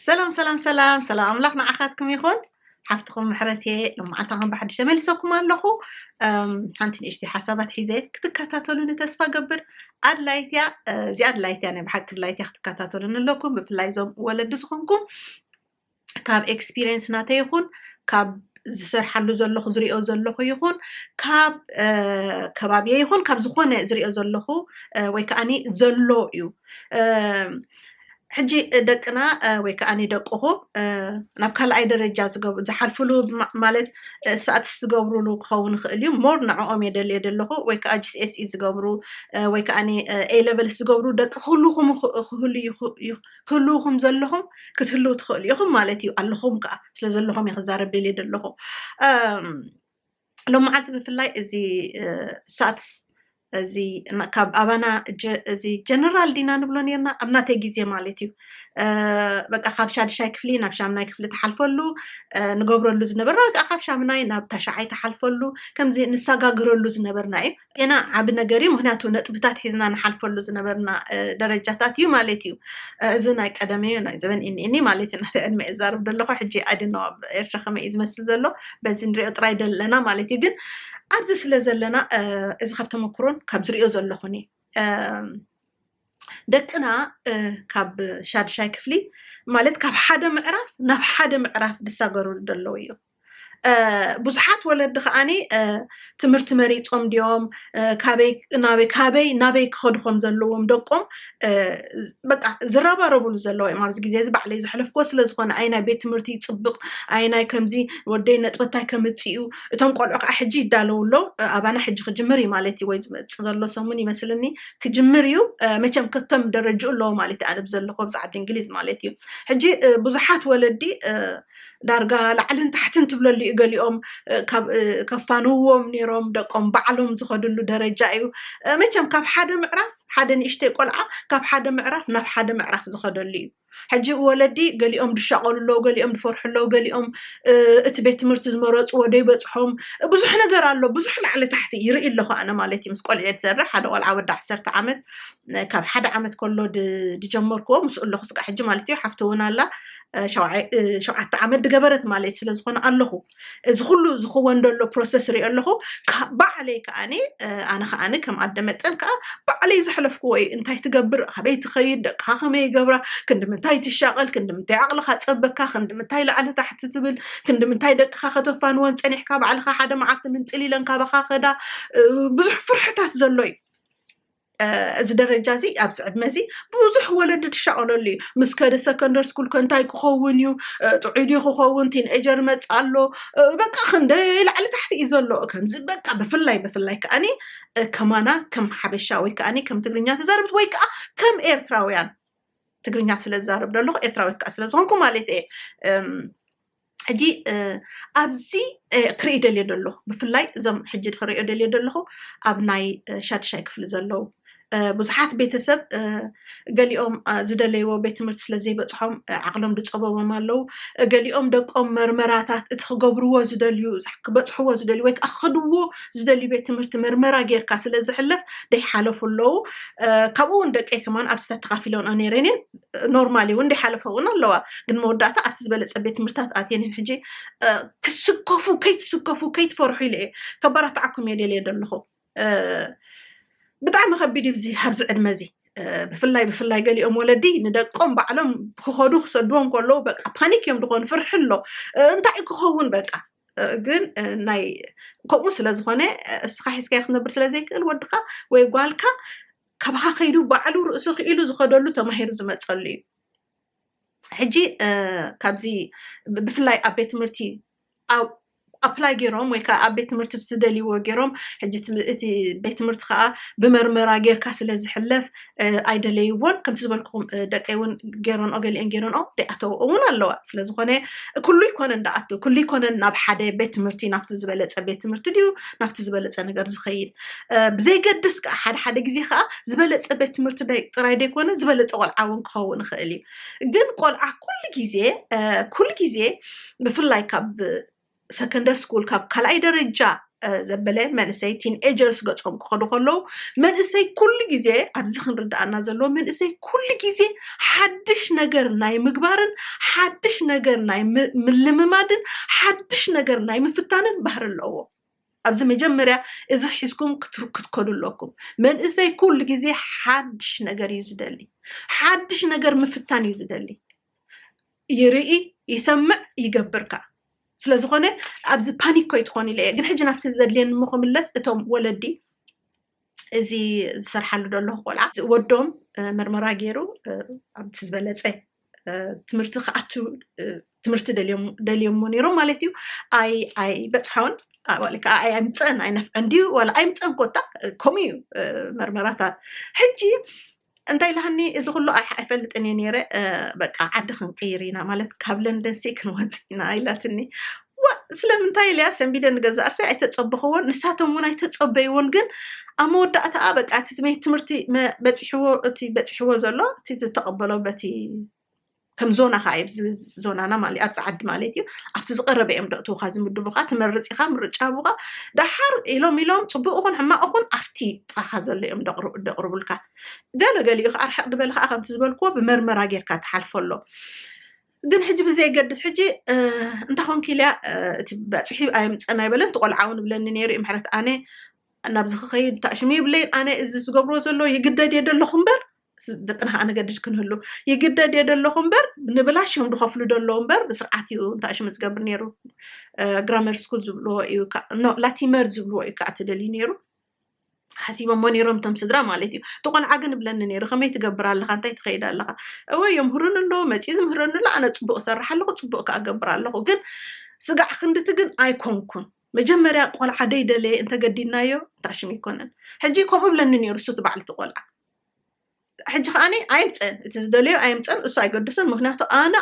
ሰላም ሰላም ሰላም ሰላም ኣምላኽ ንዓኻትኩም ይኹን ሓፍትኹም ምሕረት እየ ሎማዓልታኸም ብሓድሽ ተመልሰኩም ኣለኹ ሓንቲ ንእሽቲ ሓሳባት ሒዘ ክትከታተሉኒ ተስፋ ገብር ኣድላይት እያ እዚኣ ኣድላይት እያ ናይ ብሓቂ ኣድላይት እያ ክትከታተሉኒ ኣለኩም ብፍላይ እዞም ወለዲ ዝኾንኩም ካብ ኤክስፒሪየንስ ናተይ ይኹን ካብ ዝሰርሓሉ ዘለኹ ዝሪኦ ዘለኹ ይኹን ካብ ከባቢየ ይኹን ካብ ዝኾነ ዝሪኦ ዘለኹ ወይ ከዓኒ ዘሎ እዩ ሕጂ ደቅና ወይ ከዓኒ ደቅኹ ናብ ካልኣይ ደረጃ ዝሓልፍሉ ማለት ሰኣትስ ዝገብሩሉ ክኸውን ይኽእል እዩ ሞር ንዕኦም እየ ደልየ ዘለኹ ወይ ከዓ ጂስኤስኢ ዝገብሩ ወይ ከዓኒ ኤ ሌቨልስ ዝገብሩ ደቂ ክህሉኹም ክህሉ ክትህልዉ ከም ዘለኹም ክትህልዉ ትኽእሉ ኢኹም ማለት እዩ ኣለኹም ከዓ ስለ ዘለኹም እየ ክዛረብ ደልየ ዘለኹ ሎም መዓልቲ ብፍላይ እዚ ሳትስ እዚ ካብ ኣባና እዚ ጀነራል ዲና ንብሎ ነርና ኣብ ናተይ ግዜ ማለት እዩ በቃ ካብ ሻድሻይ ክፍሊ ናብ ሻምናይ ክፍሊ ተሓልፈሉ ንገብረሉ ዝነበርና ወይ ከዓ ካብ ሻምናይ ናብ ታሻዓይ ተሓልፈሉ ከምዚ ንሰጋግረሉ ዝነበርና እዩ ገና ዓብ ነገር እዩ ምክንያቱ ነጥብታት ሒዝና ንሓልፈሉ ዝነበርና ደረጃታት እዩ ማለት እዩ እዚ ናይ ቀደም እዩ ናይ ዘበን እኒእኒ ማለት እዩ ናተ ዕድመ እዛርብ ደለኹ ሕጂ ኣድኖ ኣብ ኤርትራ ከመይ እዩ ዝመስል ዘሎ በዚ ንሪኦ ጥራይ ደለና ማለት እዩ ግን ኣብዚ ስለ ዘለና እዚ ካብ ተመክሮን ካብ ዝሪኦ ዘለኹን እዩ ደቅና ካብ ሻድሻይ ክፍሊ ማለት ካብ ሓደ ምዕራፍ ናብ ሓደ ምዕራፍ ዝሳገርሉ ደለዉ እዮም ብዙሓት ወለዲ ከዓኒ ትምህርቲ መሪፆም ድዮም ካበይ ናበይ ካበይ ናበይ ክኸዱ ከም ዘለዎም ደቆም በቃ ዝረባረብሉ ዘለዋ እዮም ኣብዚ ግዜ እዚ ባዕለይ ዘሕለፍኮ ስለዝኾነ ኣይ ናይ ቤት ትምህርቲ ይፅብቕ ኣይ ናይ ከምዚ ወደይ ነጥበታይ ከምፅኡ እቶም ቆልዑ ከዓ ሕጂ ይዳለዉ ኣለዉ ኣባና ሕጂ ክጅምር እዩ ማለት እዩ ወይ ዝመፅ ዘሎ ሰሙን ይመስልኒ ክጅምር እዩ መቸም ከከም ደረጅኡ ኣለዎ ማለት እዩ ኣነ ብዘለኹ ኣብዚ ዓዲ እንግሊዝ ማለት እዩ ሕጂ ብዙሓት ወለዲ ዳርጋ ላዕልን ታሕትን ትብለሉ እዩ ገሊኦም ከፋንውዎም ነይሮም ደቆም ባዕሎም ዝኸድሉ ደረጃ እዩ መቸም ካብ ሓደ ምዕራፍ ሓደ ንእሽተይ ቆልዓ ካብ ሓደ ምዕራፍ ናብ ሓደ ምዕራፍ ዝኸደሉ እዩ ሕጂ ወለዲ ገሊኦም ድሻቐሉ ኣለዉ ገሊኦም ዝፈርሑ ኣለዉ ገሊኦም እቲ ቤት ትምህርቲ ዝመረፅዎ ደይበፅሖም ብዙሕ ነገር ኣሎ ብዙሕ ላዕሊ ታሕቲ ይርኢ ኣለኹ ኣነ ማለት እዩ ምስ ቆልዒ ዝሰርሕ ሓደ ቆልዓ ወዲ ዓሰርተ ዓመት ካብ ሓደ ዓመት ከሎ ድጀመርክዎ ምስ ኣለኹ ስጋ ሕጂ ማለት እዩ ሓፍቲ እውን ኣላ ሸውዓተ ዓመት ድገበረት ማለት ስለ ዝኾነ ኣለኹ እዚ ኩሉ ዝኽወን ደሎ ፕሮሰስ ሪኦ ኣለኹ ባዕለይ ከዓኒ ኣነ ከዓኒ ከም ኣደ መጠን ከዓ ባዕለይ ዘሕለፍክዎ እዩ እንታይ ትገብር ኣበይ ትኸይድ ደቅኻ ከመይ ይገብራ ክንዲ ምንታይ ትሻቐል ክንዲ ምንታይ ዓቕልኻ ፀበካ ክንዲ ምንታይ ላዕሊ ታሕቲ ትብል ክንዲ ምንታይ ደቅኻ ከተፋንወን ፀኒሕካ ባዕልኻ ሓደ መዓልቲ ምንጥል ኢለን ካባኻ ከዳ ብዙሕ ፍርሕታት ዘሎ እዩ እዚ ደረጃ እዚ ኣብዚ ዕድመ እዚ ብዙሕ ወለዲ ትሻቐለሉ እዩ ምስ ከደ ሰከንደር ስኩል ከ እንታይ ክኸውን እዩ ጥዑይ ድዩ ክኸውን ቲንኤጀር መፅ ኣሎ በቃ ክንደይ ላዕሊ ታሕቲ እዩ ዘሎ ከምዚ በቃ ብፍላይ ብፍላይ ከዓኒ ከማና ከም ሓበሻ ወይ ከዓኒ ከም ትግርኛ ተዛረብት ወይ ከዓ ከም ኤርትራውያን ትግርኛ ስለ ዝዛረብ ዘለኹ ኤርትራዊት ከዓ ስለ ዝኾንኩ ማለት እየ ሕጂ ኣብዚ ክርኢ ደልዮ ደሎ ብፍላይ እዞም ሕጂ ክሪኦ ደልዮ ደለኹ ኣብ ናይ ሻድሻይ ክፍሊ ዘለዉ ብዙሓት ቤተሰብ ገሊኦም ዝደለይዎ ቤት ትምህርቲ ስለ ዘይበፅሖም ዓቕሎም ዝፀበቦም ኣለዉ ገሊኦም ደቆም መርመራታት እቲ ክገብርዎ ዝደልዩ ክበፅሕዎ ዝደልዩ ወይ ከዓ ክኸድዎ ዝደልዩ ቤት ትምህርቲ መርመራ ጌርካ ስለ ዝሕለፍ ደይሓለፉ ኣለዉ ካብኡ እውን ደቀይ ከማን ኣብዚ ተተኻፊሎንኦ ነይረን እየን ኖርማል እዩ እንዲ ሓለፈ እውን ኣለዋ ግን መወዳእታ ኣብቲ ዝበለፀ ቤት ትምህርታት ኣትየንን ሕጂ ክትስከፉ ከይትስከፉ ከይትፈርሑ ኢለ እየ ከባራትዓኩም እየ ደልየ ዘለኹ ብጣዕሚ ከቢድ እዩ ኣብዚ ዕድመ እዚ ብፍላይ ብፍላይ ገሊኦም ወለዲ ንደቆም ባዕሎም ክኸዱ ክሰድዎም ከለዉ በቃ ፓኒክ እዮም ዝኾኑ ፍርሒ ኣሎ እንታይ ክኸውን በቃ ግን ናይ ከምኡ ስለ ዝኾነ እስኻ ሒዝካዮ ክትነብር ስለ ዘይክእል ወድኻ ወይ ጓልካ ካባኻ ከይዱ ባዕሉ ርእሱ ክኢሉ ዝኸደሉ ተማሂሩ ዝመፀሉ እዩ ሕጂ ካብዚ ብፍላይ ኣብ ቤት ትምህርቲ ኣፕላይ ገይሮም ወይ ከዓ ኣብ ቤት ትምህርቲ ዝደልይዎ ገይሮም ሕጂ እቲ ቤት ትምህርቲ ከዓ ብመርመራ ጌርካ ስለ ዝሕለፍ ኣይደለይዎን ከምቲ ዝበልክኹም ደቀይ እውን ገይረንኦ ገሊአን ገይረንኦ ደይኣተውኦ እውን ኣለዋ ስለ ዝኾነ ኩሉ ይኮነን ደኣቱ ኩሉ ይኮነን ናብ ሓደ ቤት ትምህርቲ ናብቲ ዝበለፀ ቤት ትምህርቲ ድዩ ናብቲ ዝበለፀ ነገር ዝኸይድ ብዘይገድስ ከዓ ሓደ ሓደ ግዜ ከዓ ዝበለፀ ቤት ትምህርቲ ጥራይ ዘይኮነ ዝበለፀ ቆልዓ እውን ክኸውን ይኽእል እዩ ግን ቆልዓ ኩሉ ግዜ ኩሉ ግዜ ብፍላይ ካብ ሰከንደር ስኩል ካብ ካልኣይ ደረጃ ዘበለ መንእሰይ ቲን ኤጀርስ ገፆም ክኸዱ ከለዉ መንእሰይ ኩሉ ግዜ ኣብዚ ክንርዳእና ዘለዎ መንእሰይ ኩሉ ግዜ ሓድሽ ነገር ናይ ምግባርን ሓድሽ ነገር ናይ ምልምማድን ሓድሽ ነገር ናይ ምፍታንን ባህሪ ኣለዎ ኣብዚ መጀመርያ እዚ ሒዝኩም ክትከዱ ኣለኩም። መንእሰይ ኩሉ ግዜ ሓድሽ ነገር እዩ ዝደሊ። ሓድሽ ነገር ምፍታን እዩ ዝደሊ። ይርኢ፣ ይሰምዕ፣ ይገብር ከኣ። ስለ ዝኾነ ኣብዚ ፓኒክ ኮይትኾን ኢለ እየ። ግን ሕጂ ናብቲ ዘድልየኒ እሞ ክምለስ እቶም ወለዲ እዚ ዝሰርሓሉ ዘለኹ ቆልዓ ወዶም መርመራ ገይሩ ኣብቲ ዝበለፀ ትምህርቲ ክኣቱ ትምህርቲ ደልዮሞ ነይሮም ማለት እዩ ኣይ ኣይ በፅሖን ከዓ ኣይ ኣይምፀን ኣይነፍዐን ድዩ ዋላ ኣይምፀን ኮታ ከምኡ እዩ መርመራታት ሕጂ እንታይ ኢላኒ እዚ ኩሉ ኣሕ ኣይፈልጥን እየ ነይረ በቃ ዓዲ ክንቅይር ኢና ማለት ካብ ለንደን ሲ ክንወፅእ ኢና ኢላትኒ ዋ ስለምንታይ ኢለያ ሰንቢደ ንገዛ ኣርሰ ኣይተፀበኽዎን ንሳቶም እውን ኣይተፀበይዎን ግን ኣብ መወዳእታኣ በቃ እቲ ትምህርቲ መ- በፂሕዎ እቲ በፂሕዎ ዘሎ እቲ ዝተቐበሎ በቲ ከም ዞና ከዓ እዩ ዞናና ማለት ኣብዚ ዓዲ ማለት እዩ ኣብቲ ዝቀረበ እዮም ደእትውካ ዝምድቡካ ትመርፅ ኢካ ምርጫ ቡካ ዳሓር ኢሎም ኢሎም ፅቡቅ ይኹን ሕማቅ ይኹን ኣብቲ ጥቃካ ዘሎ እዮም ደቅርቡልካ ገለ ገሊኡ ከዓ ርሕቅ ዝበለ ከዓ ከምቲ ዝበልክዎ ብመርመራ ጌርካ ትሓልፎ ኣሎ ግን ሕጂ ብዘይገድስ ሕጂ እንታይ ኮንክ ኢልያ እቲ በፅሒ ኣየምፀን ኣይበለን እቲ ቆልዓ እውን ብለኒ ነይሩ እዩ ምሕረት ኣነ ናብዚ ክኸይድ ታእሽሙ ይብለይን ኣነ እዚ ዝገብሮ ዘሎ ይግደድ እየ ደለኹ እምበር ደቅና ኣነገድድ ክንህሉ ይግደድ እየ ደለኹ እምበር ንብላሽ እዮም ዝኸፍሉ ደለዉ እምበር ብስርዓት እዩ እንታይ ሽም ዝገብር ነይሩ ግራመር ስኩል ዝብልዎ እዩ ላቲመር ዝብልዎ እዩ ከዓ ትደልዩ ነይሩ ሓሲቦሞ ነይሮም እቶም ስድራ ማለት እዩ እቲ ቆልዓ ግን ብለኒ ነይሩ ከመይ ትገብር ኣለካ እንታይ ትኸይድ ኣለካ እወ የምህሩን ኣለዎ መፅኡ ዝምህረኒ ኣሎ ኣነ ፅቡቅ ሰርሕ ኣለኩ ፅቡቅ ከዓ ገብር ኣለኩ ግን ስጋዕ ክንድቲ ግን ኣይኮንኩን መጀመርያ ቆልዓ ደይደለየ እንተገዲድናዮ ታሽም ኣይኮነን ሕጂ ከምኡ ብለኒ ነይሩ እሱ እቲ ባዕልቲ ቆልዓ ሕጂ ከዓኒ ኣይምፀን እቲ ዝደለዮ ኣይምፀን እሱ ኣይገደሶን ምክንያቱ ኣነ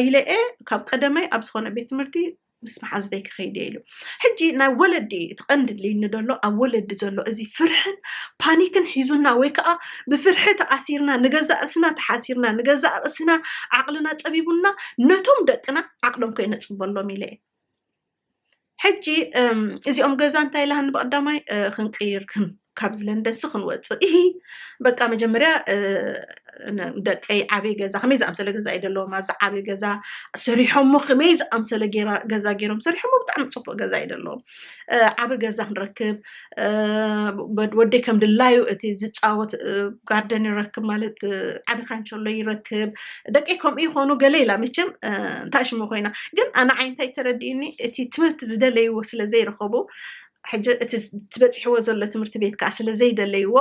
ኢለ እየ ካብ ቀደመይ ኣብ ዝኮነ ቤት ትምህርቲ ምስ መሓዙተይ ክኸይድ እየ ኢሉ ሕጂ ናይ ወለዲ እቲ ቀንዲ ልዩኒ ዘሎ ኣብ ወለዲ ዘሎ እዚ ፍርሕን ፓኒክን ሒዙና ወይ ከዓ ብፍርሒ ተኣሲርና ንገዛእ ርእስና ተሓሲርና ንገዛእ ርእስና ዓቕልና ፀቢቡና ነቶም ደቅና ዓቕሎም ከይነፅበሎም ኢለ እየ ሕጂ እዚኦም ገዛ እንታይ ኢላሃኒ ብቀዳማይ ክንቅይር ካብዚ ለንደን ሲ ክንወፅእ ይ በቃ መጀመርያ ደቀይ ዓብይ ገዛ ከመይ ዝኣምሰለ ገዛ እዩ ዘለዎም ኣብዚ ዓብይ ገዛ ሰሪሖሞ ከመይ ዝኣምሰለ ገዛ ገይሮም ሰሪሖሞ ብጣዕሚ ፅቡቅ ገዛ እዩ ዘለዎም ዓብይ ገዛ ክንረክብ ወደይ ከም ድላዩ እቲ ዝፃወት ጋርደን ይረክብ ማለት ዓቢ ካንቸሎ ይረክብ ደቂ ከምኡ ይኮኑ ገለ ኢላ መቸም እንታይ ሽሙ ኮይና ግን ኣነ ዓይነታይ ተረዲእኒ እቲ ትምህርቲ ዝደለይዎ ስለዘይረኸቡ ሕጂ እቲ ትበፂሕዎ ዘሎ ትምህርቲ ቤት ከዓ ስለዘይደለይዎ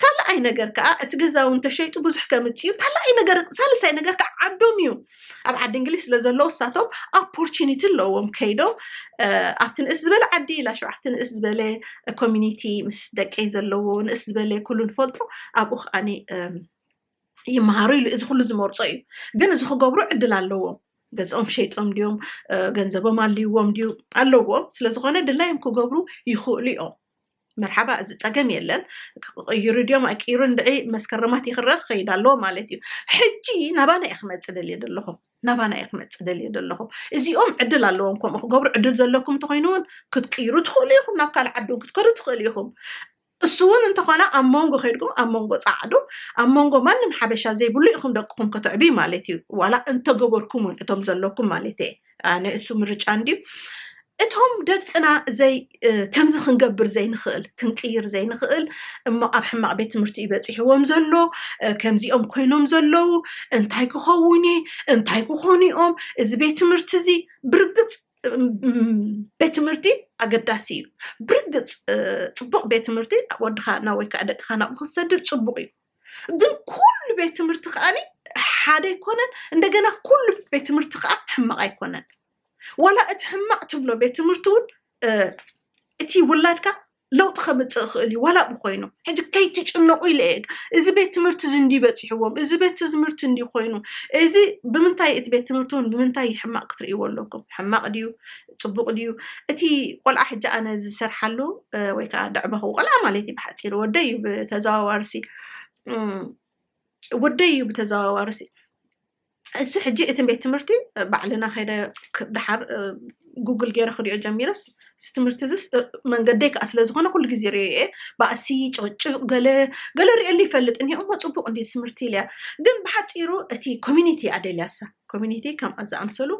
ካልኣይ ነገር ከዓ እቲ ገዛ እውን ተሸይጡ ብዙሕ ከምፅዩ ካልኣይ ነገር ሳልሳይ ነገር ከዓ ዓዶም እዩ ኣብ ዓዲ እንግሊዝ ስለ ዘለዉ እሳቶም ኣፖርቹኒቲ ኣለዎም ከይዶም ኣብቲ ንእስ ዝበለ ዓዲ ላሸ ኣብቲ ንእስ ዝበለ ኮሚኒቲ ምስ ደቀይ ዘለዎ ንእስ ዝበለ ኩሉ ንፈልጦ ኣብኡ ከዓ ይመሃሩ ኢሉ እዚ ኩሉ ዝመርፆ እዩ ግን እዚ ክገብሩ ዕድል ኣለዎም ገዝኦም ሸይጦም ድዮም ገንዘቦም ኣልዎም ድዩ ኣለዎም ስለዝኮነ ድላዮም ክገብሩ ይኽእሉ እዮም መርሓባ እዚ ፀገም የለን ክቕይሩ ድዮም ኣይቅይሩ እንድዒ መስከረማት ይኽረ ክኸይድ ኣለዎ ማለት እዩ ሕጂ ናባና እየ ክመፅ ደልየ ዘለኹ ናባና እየ ክመፅ ደልየ ዘለኹ እዚኦም ዕድል ኣለዎም ከምኡ ክገብሩ ዕድል ዘለኩም እንተኮይኑ እውን ክትቅይሩ ትኽእሉ ኢኹም ናብ ካልእ ዓዲ እውን ክትከዱ ትኽእሉ ኢኹም እሱ እውን እንተኾነ ኣብ መንጎ ከይድኩም ኣብ መንጎ ፃዕዱ ኣብ መንጎ ማንም ሓበሻ ዘይብሉ ኢኹም ደቅኹም ከተዕብዩ ማለት እዩ ዋላ እንተገበርኩም እውን እቶም ዘለኩም ማለት እየ ኣነ እሱ ምርጫ እንድዩ እቶም ደቅና ዘይ ከምዚ ክንገብር ዘይንኽእል ክንቅይር ዘይንኽእል እሞ ኣብ ሕማቕ ቤት ትምህርቲ እዩ በፂሕዎም ዘሎ ከምዚኦም ኮይኖም ዘለዉ እንታይ ክኸውን እየ እንታይ ክኾኑ እዮም እዚ ቤት ትምህርቲ እዚ ብርግፅ ቤት ትምህርቲ ኣገዳሲ እዩ ብርግፅ ፅቡቕ ቤት ትምህርቲ ወድኻ ናብ ወይ ከዓ ደቅኻ ናብኡ ክትሰድድ ፅቡቕ እዩ ግን ኩሉ ቤት ትምህርቲ ከዓኒ ሓደ ኣይኮነን እንደገና ኩሉ ቤት ትምህርቲ ከዓ ሕማቅ ኣይኮነን ዋላ እቲ ሕማቅ ትብሎ ቤት ትምህርቲ እውን እቲ ውላድካ ለውጢ ከምፅእ ይኽእል እዩ ዋላ ብኮይኑ ሕዚ ከይትጭነቁ ኢለ እየ እዚ ቤት ትምህርቲ እዚ እንዲ በፂሕዎም እዚ ቤት ትምህርቲ እንዲ ኮይኑ እዚ ብምንታይ እቲ ቤት ትምህርቲ እውን ብምንታይ ሕማቅ ክትርእይዎ ኣለኩም ሕማቅ ድዩ ጽቡቅ ድዩ እቲ ቆልዓ ሕጂ ኣነ ዝሰርሓሉ ወይ ከዓ ደዕበኹ ቆልዓ ማለት እዩ ብሓፂሩ ወደይ እዩ ብተዘዋዋርሲ ወደይ እዩ ብተዘዋዋርሲ እሱ ሕጂ እቲ ቤት ትምህርቲ ባዕልና ከይደ ድሓር ጉግል ገይረ ክሪኦ ጀሚረስ እዚ ትምህርቲ እዚስ መንገደይ ከዓ ስለዝኮነ ኩሉ ግዜ ሪኦ እየ ባእሲ ጭቅጭቅ ገለ ገለ ሪኦሉ ይፈልጥ እኒኦ እሞ ፅቡቅ እንዲ ትምህርቲ ኢልያ ግን ብሓፂሩ እቲ ኮሚኒቲ ኣደልያሳ ኮሚኒቲ ከምኣ ዝኣምሰሉ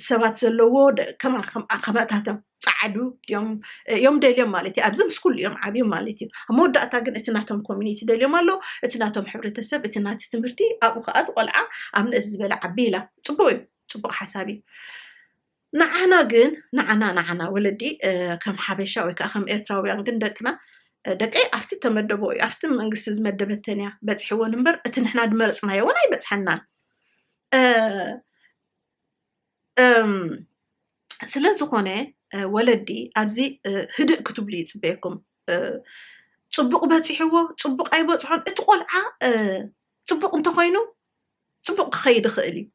ሰባት ዘለዎ ከማከማታቶም ፃዓዱ እዮም ደልዮም ማለት እዩ ኣብዚ ምስ ኩሉ እዮም ዓብዮም ማለት እዩ ኣብ መወዳእታ ግን እቲ ናቶም ኮሚኒቲ ደልዮም ኣሎ እቲ ናቶም ሕብረተሰብ እቲ ናቲ ትምህርቲ ኣብኡ ከዓ ቆልዓ ኣብ ንእስ ዝበለ ዓቢ ኢላ ፅቡቅ እዩ ፅቡቅ ሓሳብ እዩ ንዓና ግን ንዓና ንዓና ወለዲ ከም ሓበሻ ወይ ከዓ ከም ኤርትራውያን ግን ደቅና ደቀይ ኣብቲ ተመደቦ እዩ ኣብቲ መንግስቲ ዝመደበተን እያ በፅሕዎን እምበር እቲ ንሕና ድመረፅናዮ እውን ኣይበፅሐናን ስለ ዝኾነ ወለዲ ኣብዚ ህድእ ክትብሉ ይፅበየኩም ፅቡቅ በፂሕዎ ፅቡቅ ኣይበፅሖን እቲ ቆልዓ ፅቡቅ እንተኮይኑ ፅቡቅ ክኸይድ ይኽእል እዩ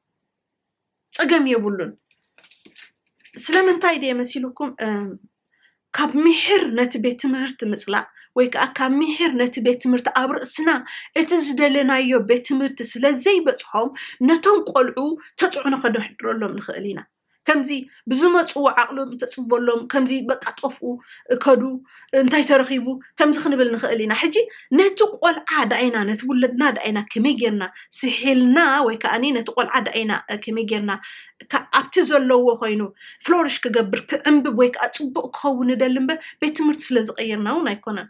ጸገም የብሉን ስለምንታይ ድየ መሲልኩም ካብ ምሕር ነቲ ቤት ትምህርቲ ምፅላእ ወይ ከዓ ካብ ምሕር ነቲ ቤት ትምህርቲ ኣብ ርእስና እቲ ዝደለናዮ ቤት ትምህርቲ ስለ ዘይበፅሖም ነቶም ቆልዑ ተፅዕኖ ከነሕድረሎም ንኽእል ኢና ከምዚ ብዝመፅዎ ዓቕሎም ተፅበሎም ከምዚ በቃ ጠፍኡ እከዱ እንታይ ተረኺቡ ከምዚ ክንብል ንኽእል ኢና ሕጂ ነቲ ቆልዓ ዳኣይና ነቲ ውለድና ዳኣይና ከመይ ጌርና ስሒልና ወይ ከዓኒ ነቲ ቆልዓ ዳኣይና ከመይ ጌርና ኣብቲ ዘለዎ ኮይኑ ፍሎሪሽ ክገብር ክዕንብብ ወይ ከዓ ፅቡቅ ክኸውን ንደሊ እምበር ቤት ትምህርቲ ስለ ዝቀየርና እውን ኣይኮነን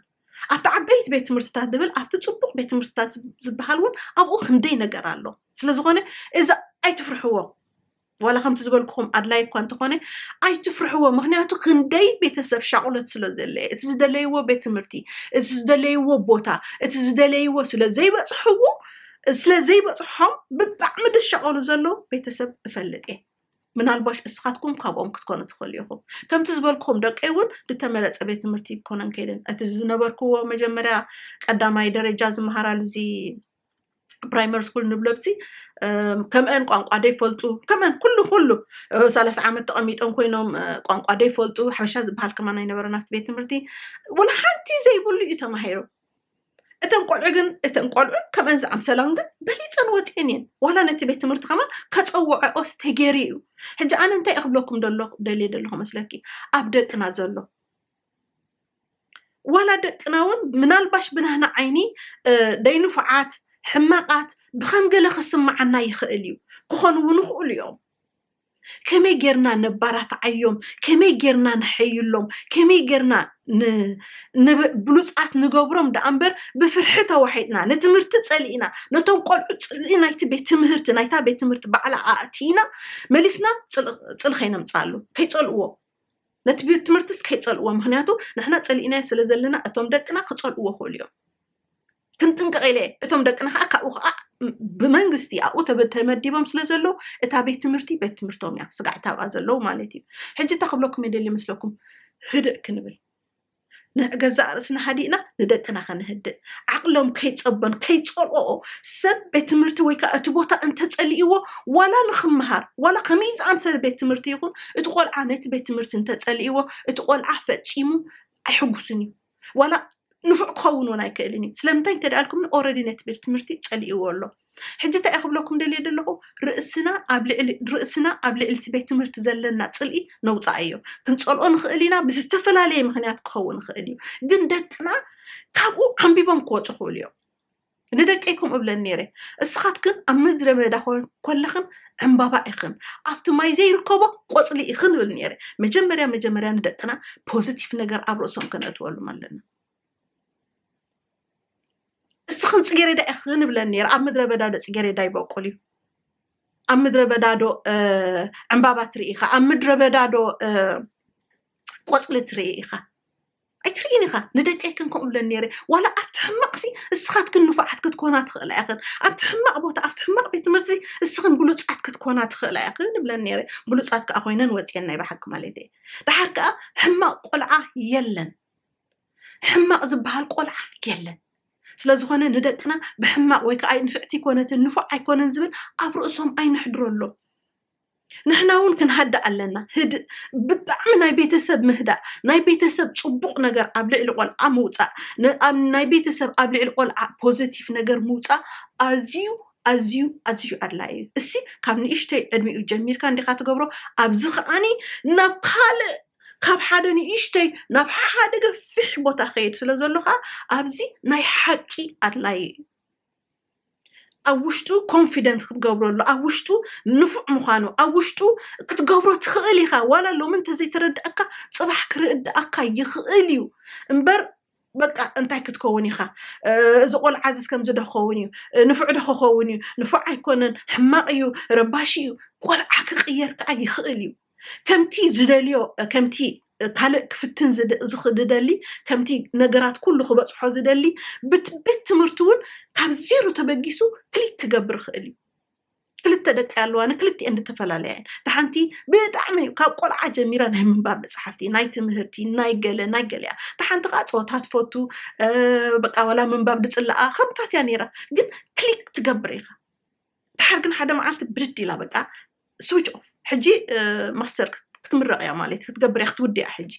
ኣብቲ ዓበይት ቤት ትምህርትታት ድብል ኣብቲ ፅቡቅ ቤት ትምህርትታት ዝበሃል እውን ኣብኡ ክንደይ ነገር ኣሎ ስለዝኾነ እዚ ኣይትፍርሕዎ ዋላ ከምቲ ዝበልኩኹም ኣድላይ እኳ እንተኾነ ኣይትፍርሕዎ ምክንያቱ ክንደይ ቤተሰብ ሻቁሎት ስለ ዘለ እቲ ዝደለይዎ ቤት ትምህርቲ እቲ ዝደለይዎ ቦታ እቲ ዝደለይዎ ስለ ዘይበፅሕዎ ስለ ዘይበፅሖም ብጣዕሚ ዝሸቀሉ ዘለዉ ቤተሰብ እፈልጥ እየ ምናልባሽ እስኻትኩም ካብኦም ክትኮኑ ትኽእሉ ኢኹም ከምቲ ዝበልኩም ደቂ እውን ዝተመረፀ ቤት ትምህርቲ ክኮነን ከይደን እቲ ዝነበርክዎ መጀመርያ ቀዳማይ ደረጃ ዝመሃራሉ እዚ ፕራይመሪ ስኩል ንብሎብሲ ከምአን ቋንቋ ደይፈልጡ ከምአን ኩሉ ኩሉ ሰላሳ ዓመት ተቐሚጦም ኮይኖም ቋንቋ ደይፈልጡ ሓበሻ ዝበሃል ከማ ናይ ነበረ ናብቲ ቤት ትምህርቲ ወላ ሓንቲ ዘይብሉ እዩ ተማሂሩ እተን ቆልዑ ግን እተን ቆልዑ ከምአን ዝኣምሰላን ግን በሊፀን ወፅኤን እየን ዋላ ነቲ ቤት ትምህርቲ ከማ ከፀውዐኦስ ተገይሩ እዩ ሕጂ ኣነ እንታይ ክብለኩም ደለኹ ደልየ ደለኹ መስለኪ ኣብ ደቅና ዘሎ ዋላ ደቅና እውን ምናልባሽ ብናህና ዓይኒ ደይንፉዓት ሕማቓት ብከም ገለ ክስምዓና ይኽእል እዩ ክኾኑ እውን ይኽእሉ እዮም ከመይ ጌርና ነባራትዓዮም ከመይ ጌርና ንሐይሎም ከመይ ጌርና ብሉፃት ንገብሮም ደኣ እምበር ብፍርሒ ተዋሒጥና ንትምህርቲ ፀሊእና ነቶም ቆልዑ ፅሊ ናይቲ ቤት ትምህርቲ ናይታ ቤት ትምህርቲ ባዕላ ኣእቲና መሊስና ፅል ከይነምፃሉ ከይፀልእዎ ነቲ ቤት ትምህርትስ ከይፀልእዎ ምክንያቱ ንሕና ፀሊእናዮ ስለ ዘለና እቶም ደቅና ክፀልእዎ ክእሉ እዮም ክንጥንቀቕ ኢለ እቶም ደቅና ከዓ ካብኡ ከዓ ብመንግስቲ ኣብኡ ተመዲቦም ስለ ዘለዉ እታ ቤት ትምህርቲ ቤት ትምህርቶም እያ ስጋዕታ ኣብኣ ዘለዉ ማለት እዩ ሕጂ እታ ክብለኩም የደሊ መስለኩም ህድእ ክንብል ንገዛእ ርእስና ሃዲእና ንደቅና ከነህድእ ዓቕሎም ከይጸበን ከይጸልኦኦ ሰብ ቤት ትምህርቲ ወይ ከዓ እቲ ቦታ እንተጸሊእዎ ዋላ ንክመሃር ዋላ ከመይ ዝኣምሰለ ቤት ትምህርቲ ይኹን እቲ ቆልዓ ነቲ ቤት ትምህርቲ እንተጸሊእዎ እቲ ቆልዓ ፈጺሙ ኣይሕጉስን እዩ ዋላ ንፉዕ ክኸውን እውን ኣይክእልን እዩ ስለምንታይ እንተደኣልኩም ኦረዲ ነቲ ቤት ትምህርቲ ጸሊእዎ ኣሎ ሕጂ እንታይ እየ ክብለኩም ደልየ ዘለኹ፣ ርእስና ኣብ ልዕሊ ርእስና ኣብ ልዕሊ እቲ ቤት ትምህርቲ ዘለና ጽልኢ ነውጽኣዮ። ክንጸልኦ ንኽእል ኢና፣ ብዝተፈላለየ ምኽንያት ክኸውን ይኽእል እዩ። ግን ደቅና ካብኡ ዓምቢቦም ክወጹ ይኽእሉ እዮም። ንደቀይ ከምኡ እብለን ነይረ፣ እስኻትክን ኣብ ምድረ በዳ ኮለኽን ዕምባባ ኢኽን፣ ኣብቲ ማይ ዘይርከቦ ቆጽሊ ኢኽን እብል ነይረ። መጀመርያ መጀመርያ ንደቅና ፖዚቲቭ ነገር ኣብ ርእሶም ከነእትወሎም ኣለና። እስኽን ፅጌሬዳ ኢኽን ይብለን ነይረ ኣብ ምድረ በዳ ዶ ፅጌሬዳ ይበቁል እዩ ኣብ ምድረ በዳ ዶ ዕምባባ ትርኢ ኢኻ ኣብ ምድረ በዳ ዶ ቆፅሊ ትርኢ ኢኻ ኣይትርኢን ኢኻ ንደቀይክን ከምኡ ብለን ነይረ ዋላ ኣብቲ ሕማቕሲ እስኻትክን ንፉዓት ክትኮና ትኽእላ ኢኽን ኣብቲ ሕማቕ ቦታ ኣብቲ ሕማቕ ቤት ትምህርቲ እስኽን ብሉፃት ክትኮና ትኽእላ ኢኽን ብለን ነይረ ብሉፃት ከዓ ኮይነን ወፅየን ናይ ብሓቂ ማለት እየ ድሓር ከዓ ሕማቕ ቆልዓ የለን ሕማቕ ዝበሃል ቆልዓ የለን። ስለ ዝኾነ ንደቅና ብሕማቕ ወይ ከዓ ንፍዕቲ ኮነትን ንፉዕ ኣይኮነን ዝብል ኣብ ርእሶም ኣይነሕድረሎም። ንሕና እውን ክንሃድእ ኣለና። ህድእ ብጣዕሚ ናይ ቤተሰብ ምህዳእ፣ ናይ ቤተሰብ ፅቡቕ ነገር ኣብ ልዕሊ ቆልዓ ምውፃእ፣ ናይ ቤተሰብ ኣብ ልዕሊ ቆልዓ ፖዘቲቭ ነገር ምውፃእ ኣዝዩ ኣዝዩ ኣዝዩ ኣድላይ እዩ። እሲ ካብ ንእሽተይ ዕድሚኡ ጀሚርካ እንዲኻ ትገብሮ፣ ኣብዚ ከዓኒ ናብ ካልእ ካብ ሓደ ንእሽተይ ናብ ሓደ ገፊሕ ቦታ ኸይድ ስለ ዘሎ ከዓ ኣብዚ ናይ ሓቂ ኣድላዪ እዩ ኣብ ውሽጡ ኮንፊደንት ክትገብረሉ ኣብ ውሽጡ ንፉዕ ምዃኑ ኣብ ውሽጡ ክትገብሮ ትኽእል ኢኻ ዋላ ሎሚ እንተዘይተረድኣካ ፅባሕ ክርድኣካ ይኽእል እዩ እምበር በቃ እንታይ ክትከውን ኢኻ እዚ ቆልዓ እዚ ከምዚ ዶ ክኸውን እዩ ንፉዕ ዶ ክኸውን እዩ ንፉዕ ኣይኮነን ሕማቕ እዩ ረባሺ እዩ ቆልዓ ክቕየር ከዓ ይኽእል እዩ ከምቲ ዝደልዮ ከምቲ ካልእ ክፍትን ዝደሊ ከምቲ ነገራት ኩሉ ክበፅሖ ዝደሊ ቤት ትምህርቲ እውን ካብ ዜሮ ተበጊሱ ክሊክ ክገብር ይኽእል እዩ ክልተ ደቂ ኣለዋ ንክልቲኤን ዝተፈላለያ እየን እቲ ሓንቲ ብጣዕሚ እዩ ካብ ቆልዓ ጀሚራ ናይ ምንባብ መፅሓፍቲ ናይ ትምህርቲ ናይ ገለ ናይ ገለ እያ እቲ ሓንቲ ከዓ ፀወታ ትፈቱ በቃ ዋላ ምንባብ ድፅላኣ ከምታት እያ ነይራ ግን ክሊክ ትገብር ኢኻ ድሓር ግን ሓደ መዓልቲ ብድድ ኢላ በቃ ስዊች ኦፍ ሕጂ ማስተር ክትምረቕ እያ ማለት ክትገብር እያ ክትውድ እያ ሕጂ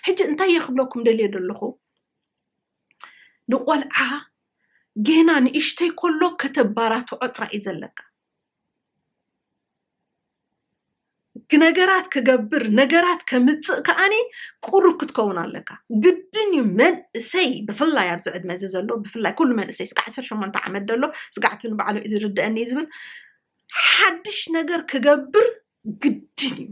ሕጂ እንታይ እየ ክብለኩም ደልየ ዘለኹ ንቆልዓ ጌና ንእሽተይ ከሎ ከተባራትዖ ጥራይ እዩ ዘለካ ነገራት ክገብር ነገራት ከምፅእ ከዓኒ ቁሩብ ክትከውን ኣለካ ግድን እዩ መንእሰይ ብፍላይ ኣብዚ ዕድመ እዚ ዘሎ ብፍላይ ኩሉ መንእሰይ ስጋ ዓሰርተ ሸሞንተ ዓመት ዘሎ ስጋዕቲ ንባዕሉ እዩ ዝርድአኒ እዩ ዝብል ሓድሽ ነገር ክገብር ግድን እዩ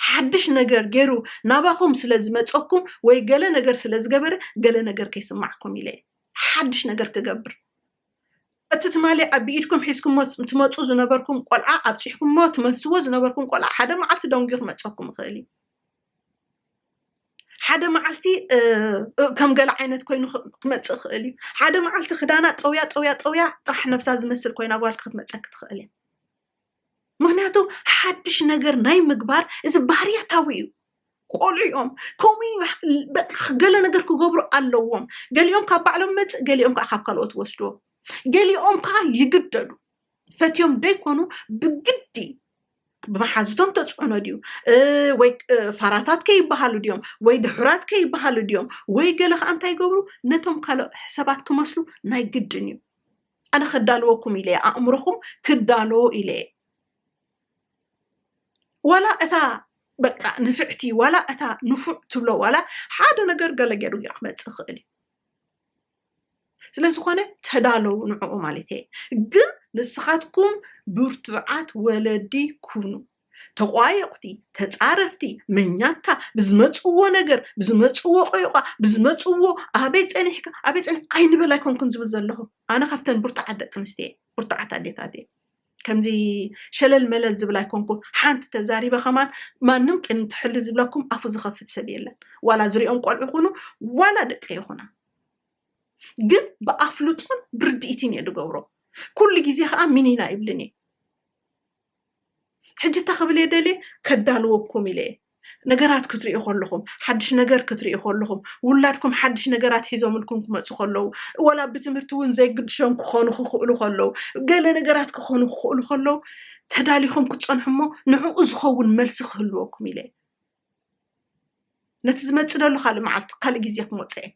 ሓድሽ ነገር ገይሩ ናባኹም ስለ ዝመፀኩም ወይ ገለ ነገር ስለ ዝገበረ ገለ ነገር ከይስማዕኩም ኢለ ሓድሽ ነገር ክገብር እቲ ትማሊ ኣብ ብኢድኩም ሒዝኩሞ ትመጹ ዝነበርኩም ቆልዓ ኣብጺሕኩሞ ትመልስዎ ዝነበርኩም ቆልዓ ሓደ መዓልቲ ደንጉዩ ክመጸኩም ይኽእል እዩ ሓደ መዓልቲ ከም ገለ ዓይነት ኮይኑ ክመጽእ ይኽእል እዩ ሓደ መዓልቲ ክዳና ጠውያ ጠውያ ጠውያ ጥራሕ ነብሳ ዝመስል ኮይና ጓል ክትመጸኪ ትኽእል እያ ምክንያቱ ሓድሽ ነገር ናይ ምግባር እዚ ባህርያታዊ እዩ ቆልዑ እዮም ከምኡ ገለ ነገር ክገብሩ ኣለዎም ገሊኦም ካብ ባዕሎም መፅእ ገሊኦም ከዓ ካብ ካልኦት ወስድዎ ገሊኦም ከዓ ይግደዱ ፈትዮም ደይኮኑ ብግዲ ብመሓዙቶም ተፅዕኖ ድዩ ወይ ፋራታት ከይበሃሉ ድዮም ወይ ድሑራት ከይበሃሉ ድዮም ወይ ገለ ከዓ እንታይ ይገብሩ ነቶም ካልኦ ሰባት ክመስሉ ናይ ግድን እዩ ኣነ ከዳልወኩም ኢለየ ኣእምሮኹም ክዳሎ ኢለየ ዋላ እታ በቃ ንፍዕቲ ዋላ እታ ንፉዕ ትብሎ ዋላ ሓደ ነገር ገለ ገይሩ እዩ ክመፅእ ይኽእል እዩ ስለዝኾነ ተዳለው ንዕኡ ማለት እየ ግን ንስኻትኩም ብርቱዓት ወለዲ ኩኑ ተቋየቑቲ፣ ተጻረፍቲ፣ መኛታ፣ ብዝመጽዎ ነገር፣ ብዝመጽዎ ቆይቋ፣ ብዝመጽዎ ኣበይ ጸኒሕካ፣ ኣበይ ጸኒሕ ኣይንበል ኣይኮንኩን ዝብል ዘለኹ። ኣነ ካብተን ብርቱዓት ደቂ ኣንስትዮ እየ፣ ብርቱዓት ኣዴታት እየ። ከምዚ ሸለል መለል ዝብል ኣይኮንኩን። ሓንቲ ተዛሪበ ከማን ማንም ቅድሚ ትሕሊ ዝብለኩም ኣፉ ዝኸፍት ሰብ የለን። ዋላ ዝሪኦም ቆልዑ ይኹኑ ዋላ ደቂ ይኹና ግን ብኣፍልጦን ብርድኢትን እየ ዝገብሮ። ኩሉ ግዜ ከዓ ሚኒና ይብልን እየ። ሕጂ እንታይ ክብል እየ ደልየ ከዳልወኩም ኢለ እየ ነገራት ክትሪኡ ከለኹም ሓድሽ ነገር ክትሪኡ ከለኹም ውላድኩም ሓድሽ ነገራት ሒዞምልኩም ክመፁ ከለዉ ወላ ብትምህርቲ እውን ዘይግድሾም ክኾኑ ክኽእሉ ከለዉ ገለ ነገራት ክኾኑ ክኽእሉ ከለዉ ተዳሊኹም ክትፀንሑ እሞ ንዕኡ ዝኸውን መልሲ ክህልወኩም ኢለ እየ ነቲ ዝመፅ ዘለካ ልምዓት ካልእ ግዜ ክመፆ እየ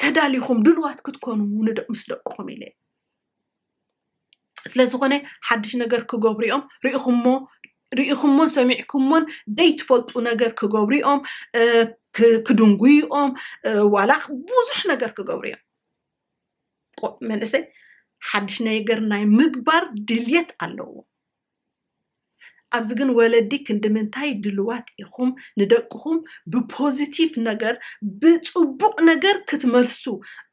ተዳሊኹም ድልዋት ክትኮኑ ንደቅ ምስ ደቅኹም ኢለ ስለዝኾነ ሓድሽ ነገር ክገብሩ እዮም ርኢኹሞ ርኢኹሞን ሰሚዕኩሞን ዘይትፈልጡ ነገር ክገብሩ እዮም ክድንጉዩ እዮም ዋላ ብዙሕ ነገር ክገብሩ እዮም መንእሰይ ሓድሽ ነገር ናይ ምግባር ድልየት ኣለዎ ኣብዚ ግን ወለዲ ክንድምንታይ ድልዋት ኢኹም ንደቅኹም ብፖዚቲቭ ነገር ብፅቡቕ ነገር ክትመልሱ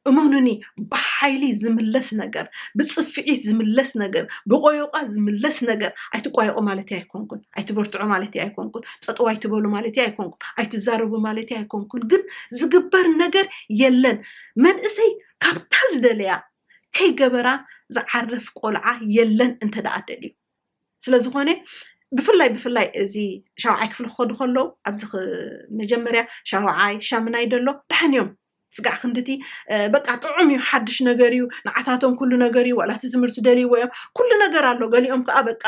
እመኑኒ ብሓይሊ ዝምለስ ነገር ብፅፍዒት ዝምለስ ነገር ብቆዮቛ ዝምለስ ነገር ኣይትቋየቑ ማለት ኣይኮንኩን ኣይትበርትዑ ማለት ኣይኮንኩን ጠጠው ኣይትበሉ ማለት ኣይኮንኩን ኣይትዛረቡ ማለት ኣይኮንኩን ግን ዝግበር ነገር የለን መንእሰይ ካብታ ዝደለያ ከይገበራ ዝዓርፍ ቆልዓ የለን እንተ ደኣ ደልዩ ስለዝኾነ ብፍላይ ብፍላይ እዚ ሻውዓይ ክፍሊ ክኸዱ ከለዉ ኣብዚ መጀመርያ ሻውዓይ ሻምናይ ደሎ ደሓን እዮም ስጋዕ ክንድቲ በቃ ጥዑም እዩ ሓድሽ ነገር እዩ ንዓታቶም ኩሉ ነገር እዩ ዋላቲ ትምህርቲ ደልይዎ እዮም ኩሉ ነገር ኣሎ ገሊኦም ከዓ በቃ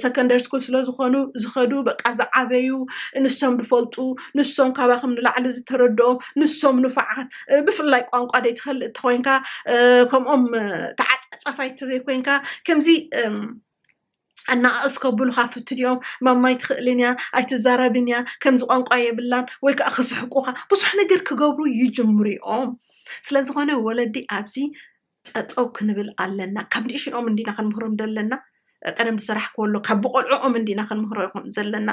ሰከንደሪ ስኩል ስለዝኾኑ ዝኸዱ በቃ ዝዓበዩ ንሶም ዝፈልጡ ንሶም ካባኹም ንላዕሊ ዝተረድኦም ንሶም ንፋዓት ብፍላይ ቋንቋ ዘይትፈልጥ እንተኮይንካ ከምኦም ተዓፃፃፋይ እንተዘይኮይንካ ከምዚ ኣነኣእስ ከብሉካ ፍትን እዮም ማማ ኣይትኽእልን እያ ኣይትዛረብን እያ ከምዚ ቋንቋ የብላን ወይ ከዓ ክስሕቁካ ብዙሕ ነገር ክገብሩ ይጅምሩ እዮም ስለዝኾነ ወለዲ ኣብዚ ጠጠው ክንብል ኣለና ካብ ንእሽኦም እንዲና ክንምህሮም ዘለና ቀደም ዝሰራሕክዎ ኣሎ ካብ ብቆልዕኦም እንዲና ክንምህሮ ይኹን ዘለና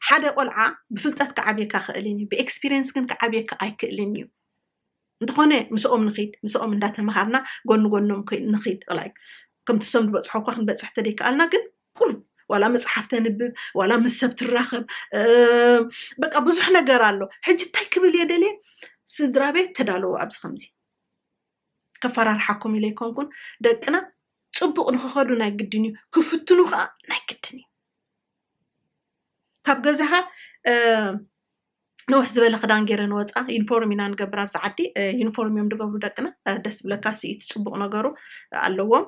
ሓደ ቆልዓ ብፍልጠት ክዓብየካ ክእልን እዩ ብኤክስፒሪየንስ ግን ክዓብየካ ኣይክእልን እዩ እንተኾነ ምስኦም ንኺድ ምስኦም እንዳተምሃርና ጎኒ ጎኖም ንኺድ ላዩ ከምቲ ሰም ዝበፅሖ እኳ ክንበፅሕ ተደይከኣልና ግን ቁሩብ ዋላ መፅሓፍ ተንብብ ዋላ ምስ ሰብ ትራኸብ በቃ ብዙሕ ነገር ኣሎ ሕጂ እንታይ ክብል እየ ደልየ ስድራ ቤት ተዳለዎ ኣብዚ ከምዚ ከፈራርሓኩም ኢለ ኣይኮንኩን ደቅና ፅቡቅ ንክኸዱ ናይ ግድን እዩ ክፍትኑ ከዓ ናይ ግድን እዩ ካብ ገዛኻ ንውሕ ዝበለ ክዳን ገይረ ንወፃ ዩኒፎርም ኢና ንገብር ኣብዚ ዓዲ ዩኒፎርም እዮም ዝገብሩ ደቅና ደስ ብለካ ስኢቲ ፅቡቅ ነገሩ ኣለዎም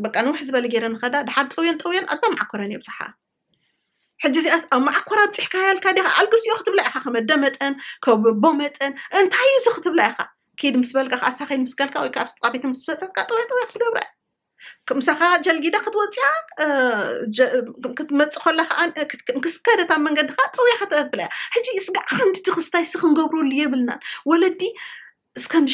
በቃ ንውሕ ዝበለ ገይረ ንኸዳ ድሓር ጠውዮን ጠውዮን ኣብዛ መዓኮረን የብፅሓ ሕጂ እዚኣስ ኣብ መዓኮር ኣብፂሕካያ ኢልካ ዲኻ ኣልግስዮ ክትብላ ኢኻ ከመደ መጠን ከቦ መጠን እንታይ እዩ እዚ ክትብላ ኢኻ ኪድ ምስ በልካ ከዓ ሳኺድ ምስ ከልካ ወይ ከዓ ኣብስጥቃ ቤት ምስ በፀጥካ ጥውያ ጥውያ ክትገብራ ምሳኻ ጀልጊዳ ክትወፅያ ክትመፅእ ከላ ከዓ ክስከደት ኣብ መንገዲ ከዓ ጥውያ ከተብላ እያ ሕጂ እስጋ ሓንቲ ትኽስታይ ስ ክንገብረሉ የብልናን ወለዲ እስከም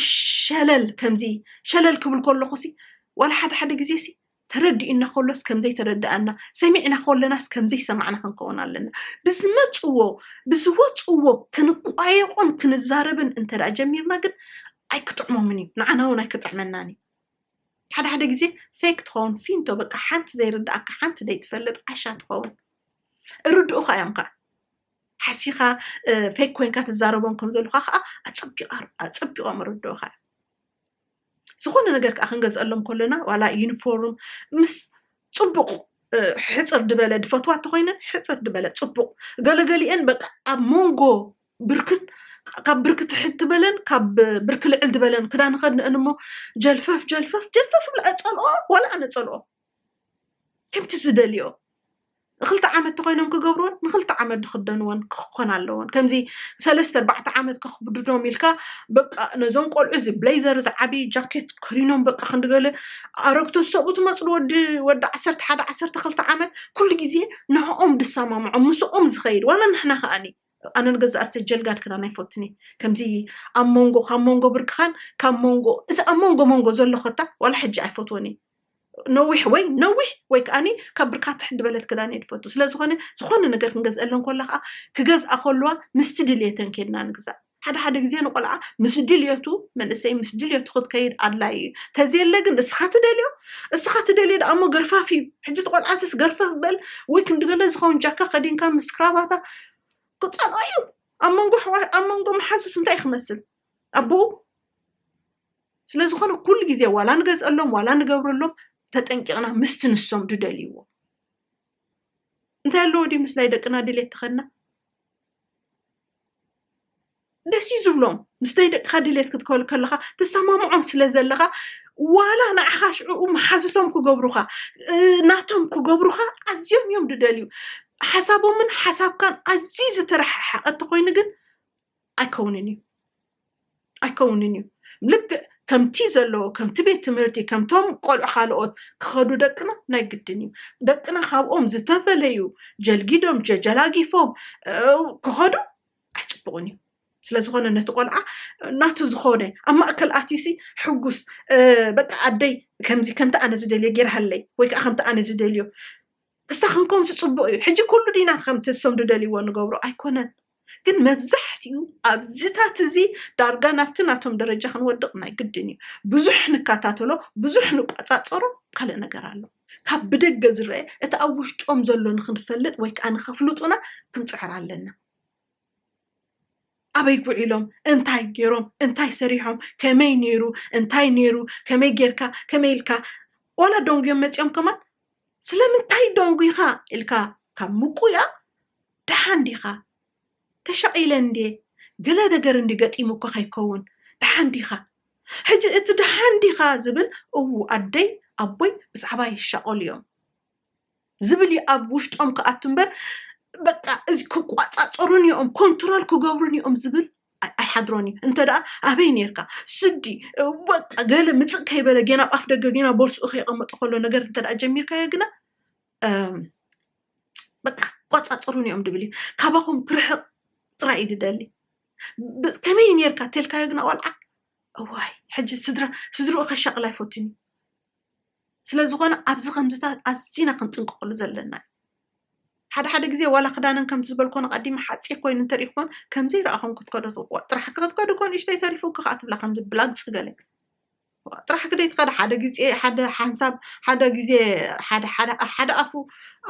ሸለል ከምዚ ሸለል ክብል ከለኹ ሲ ዋላ ሓደ ሓደ ግዜ ሲ ተረዲኡና ከሎስ ከም ዘይተረድኣና፣ ሰሚዕና ከለናስ ከም ዘይሰማዕና ክንከውን ኣለና። ብዝመጽዎ ብዝወጽዎ ክንቋየቖን ክንዛረብን እንተደኣ ጀሚርና ግን ኣይክጥዕሞምን እዩ፣ ንዓና እውን ኣይክጥዕመናን እዩ። ሓደ ሓደ ግዜ ፌክ ትኸውን ፊንቶ በቃ ሓንቲ ዘይርድኣካ ሓንቲ ዘይትፈልጥ ዓሻ ትኸውን እርድኡኻ እዮም ከዓ ሓሲኻ ፌክ ኮንካ ትዛረቦም ከም ዘለካ ከዓ ኣፀቢቆም ርድኦካ ዝኾነ ነገር ከዓ ክንገዝአሎም ከሎና ዋላ ዩኒፎርም ምስ ፅቡቕ ሕፅር ድበለ ድፈትዋ እንተኮይነን ሕፅር ድበለ ፅቡቕ ገለገሊአን በቃ ኣብ መንጎ ብርክን ካብ ብርኪ ትሕት ትበለን ካብ ብርኪ ልዕል ድበለን ክዳን ኸድንአን እሞ ጀልፈፍ ጀልፈፍ ጀልፈፍ ብላ እፀልኦ ዋላ ኣነ ፀልኦ ከምቲ ዝደልዮ ንክልተ ዓመት ተኮይኖም ክገብርዎን ንክልተ ዓመት ዝክደንዎን ክኮን ኣለዎን ከምዚ ሰለስተ ኣርባዕተ ዓመት ከክብድዶም ኢልካ በቃ ነዞም ቆልዑ እዚ ብሌዘር እዚ ዓብዪ ጃኬት ከሪኖም በቃ ክንድገለ ኣረግቶ ሰብኡ ትመፅሉ ወዲ ወዲ ዓሰርተ ሓደ ዓሰርተ ክልተ ዓመት ኩሉ ግዜ ንዕኦም ድሰማምዖም ምስኦም ዝኸይድ ዋላ ንሕና ከዓኒ ኣነ ንገዛእ ርእሰ ጀልጋድ ክዳን ኣይፈቱን እየ ከምዚ ኣብ መንጎ ካብ መንጎ ብርክኻን ካብ መንጎ እዚ ኣብ መንጎ መንጎ ዘሎ ኮታ ዋላ ሕጂ ኣይፈትዎን እየ ነዊሕ ወይ ነዊሕ ወይ ከዓኒ ካብ ብርካ ትሕት ዝበለት ክዳን እየ ዝፈቱ ስለዝኾነ ዝኾነ ነገር ክንገዝአለን ኮላ ከዓ ክገዝኣ ከለዋ ምስቲ ድልየተን ኬድና ንግዛእ ሓደ ሓደ ግዜ ንቆልዓ ምስ ድልየቱ መንእሰይ ምስ ድልየቱ ክትከይድ ኣድላዩ እዩ ተዘየለ ግን እስኻ ትደልዮ እስኻ ትደልዮ ደኣ እሞ ገርፋፍ እዩ ሕጂ ትቆልዓትስ ገርፈፍ በል ወይ ክንድገለ ዝኸውን ጃካ ከዲንካ ምስ ክራባታ ክፀልኦ እዩ ኣብ መንጎ ኣብ መንጎ መሓዙት እንታይ ክመስል ኣቦኡ ስለዝኾነ ኩሉ ግዜ ዋላ ንገዝአሎም ዋላ ንገብረሎም ተጠንቂቕና ምስቲ ንሶም ድደልይዎ እንታይ ኣለዎ ድዩ ምስ ናይ ደቅና ድሌት ተኸድና ደስ እዩ ዝብሎም ምስ ናይ ደቅኻ ድሌት ክትከሉ ከለኻ ተሰማምዖም ስለ ዘለኻ ዋላ ንዓኻ ሽዕኡ መሓዙቶም ክገብሩኻ ናቶም ክገብሩኻ ኣዝዮም እዮም ድደልዩ ሓሳቦምን ሓሳብካን ኣዝዩ ዝተረሓሓቐ እንተኮይኑ ግን ኣይከውንን እዩ ኣይከውንን እዩ ልክዕ ከምቲ ዘለዎ ከምቲ ቤት ትምህርቲ ከምቶም ቆልዑ ካልኦት ክኸዱ ደቅና ናይ ግድን እዩ ደቅና ካብኦም ዝተፈለዩ ጀልጊዶም ጀጀላጊፎም ክኸዱ ኣይፅቡቕን እዩ ስለ ዝኾነ ነቲ ቆልዓ ናቱ ዝኾነ ኣብ ማእከል ኣትዩሲ ሕጉስ በቃ ኣደይ ከምዚ ከምቲ ኣነ ዝደልዮ ጌርሃለይ ወይ ከዓ ከምቲ ኣነ ዝደልዮ እስታ ክንከምሲ ፅቡቅ እዩ ሕጂ ኩሉ ዲና ከምቲ እሶም ዝደልይዎ ንገብሮ ኣይኮነን ግን መብዛሕትኡ ኣብዚታት እዚ ዳርጋ ናብቲ ናቶም ደረጃ ክንወድቕ ናይ ግድን እዩ። ብዙሕ ንከታተሎ፣ ብዙሕ ንቆጻጸሮ፣ ካልእ ነገር ኣሎ። ካብ ብደገ ዝረኣ እቲ ኣብ ውሽጦም ዘሎ ንክንፈልጥ ወይ ከኣ ንከፍልጡና ክንጽዕር ኣለና። ኣበይ ጉዒሎም እንታይ ገይሮም እንታይ ሰሪሖም ከመይ ነይሩ እንታይ ነይሩ ከመይ ጌርካ ከመይ ኢልካ ዋላ ደንጉዮም መጺኦም ከማን ስለምንታይ ደንጒኻ ኢልካ ካብ ምቊያቕ፣ ደሓን ዲኻ? ተሻቒለ እንድየ፣ ገለ ነገር እንድዩ ገጢሙካ ከይከውን፣ ደሓን ዲኻ? ሕጂ እቲ ደሓን ዲኻ ዝብል እው ኣደይ ኣቦይ ብዛዕባይ ይሻቐሉ እዮም ዝብል እዩ ኣብ ውሽጦም ክኣቱ እምበር በቃ እዚ ክቆጻጸሩኒ እዮም ኮንትሮል ክገብሩኒ እዮም ዝብል ኣይሓድሮን እዩ እንተ ደኣ ኣበይ ነርካ ስዲ በቃ ገለ ምፅእ ከይበለ ጌና ቋፍ ደገ ጌና ቦርስኡ ከይቐመጦ ከሎ ነገር እንተ ደኣ ጀሚርካዮ ግና በቃ ቆፃፅሩን እዮም ድብል እዩ ካባኹም ክርሕቕ ጥራይ እዩ ድደሊ ከመይ ነርካ ተልካዮ ግና ቆልዓ እዋይ ሕጂ ስድራ ስድርኡ ከሻቕል ኣይፈቱን እዩ ስለዝኾነ ኣብዚ ከምዚታት ኣዝና ክንጥንቀቐሉ ዘለና እዩ ሓደ ሓደ ግዜ ዋላ ክዳነን ከምቲ ዝበልኮን ቀዲመ ሓፂር ኮይኑ እንተሪእክዎን ከምዘይ ረኣኹም ክትከዶ ትብቁ ጥራሕ ክትከዱ ኮን እሽተይ ተሪፉ ክኸዓ ትብላ ከምዚ ብላግፂ ገለ ጥራሕ ክደይ ትኸደ ሓደ ግዜ ሓደ ሓንሳብ ሓደ ግዜ ሓደ ሓደ ኣፉ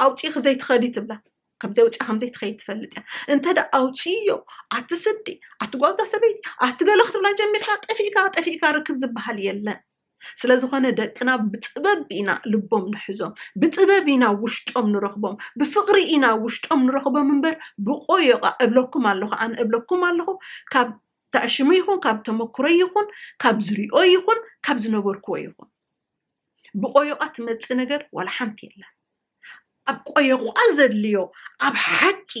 ኣውፂእኺ ዘይትኸዲ ትብላ ከምዘይ ውፅኣ ከምዘይ ትኸይድ ትፈልጥ እያ እንተ ደ ኣውፅእዮ ኣቲ ስዲ ኣቲ ጓዛ ሰበይቲ ኣቲ ገለ ክትብላ ጀሚርካ ጠፊእካ ጠፊእካ ርክብ ዝበሃል የለን ስለዝኾነ ደቅና ብጥበብ ኢና ልቦም ንሕዞም፣ ብጥበብ ኢና ውሽጦም ንረኽቦም፣ ብፍቕሪ ኢና ውሽጦም ንረኽቦም እምበር ብቆዮቓ እብለኩም ኣለኹ ኣነ እብለኩም ኣለኹ ካብ ተዕሽሙ ይኹን ካብ ተመክሮይ ይኹን ካብ ዝሪኦ ይኹን ካብ ዝነበርክዎ ይኹን ብቆዮቓ ትመፅእ ነገር ዋላ ሓንቲ የለን። ኣብ ቆየቋል ዘድልዮ ኣብ ሓቂ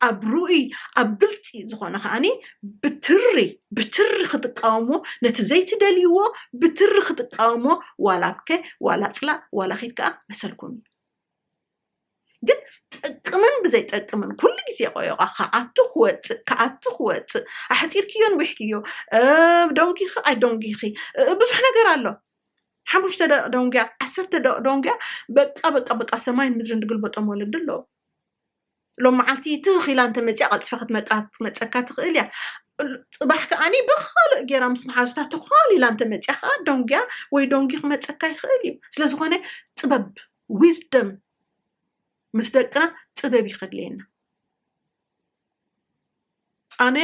ኣብ ርኡይ ኣብ ግልፂ ዝኾነ ከዓኒ ብትሪ ብትሪ ክትቃወሞ ነቲ ዘይትደልይዎ ብትሪ ክትቃወሞ ዋላ ኣብከ ዋላ ፅላእ ዋላ ኺድ ከዓ መሰልኩም እዩ ግን ጥቅምን ብዘይ ጠቅምን ኩሉ ግዜ ቆዮቃ ክኣቱ ክወፅእ ክኣቱ ክወፅእ ኣሕፂርክዮን ዊሕክዮ ዶንጊኺ ኣይ ዶንጊኺ ብዙሕ ነገር ኣሎ ሓሙሽተ ደቂ ዶንግያ ዓሰርተ ደቂ ዶንግያ በቃ በቃ በቃ ሰማይን ምድርን ድግልበጦም ወለዲ ኣለዉ ሎም መዓልቲ ትኽ ኢላ እንተመፅያ ቀልጢፈ ክትመፀካ ትኽእል እያ ፅባሕ ከዓኒ ብካልእ ጌራ ምስ መሓዙታ ተኳል ኢላ እንተመፅያ ከዓ ዶንግያ ወይ ዶንጊ ክመፀካ ይኽእል እዩ ስለዝኾነ ጥበብ ዊዝደም ምስ ደቅና ጥበብ ይኸድልየና ኣነ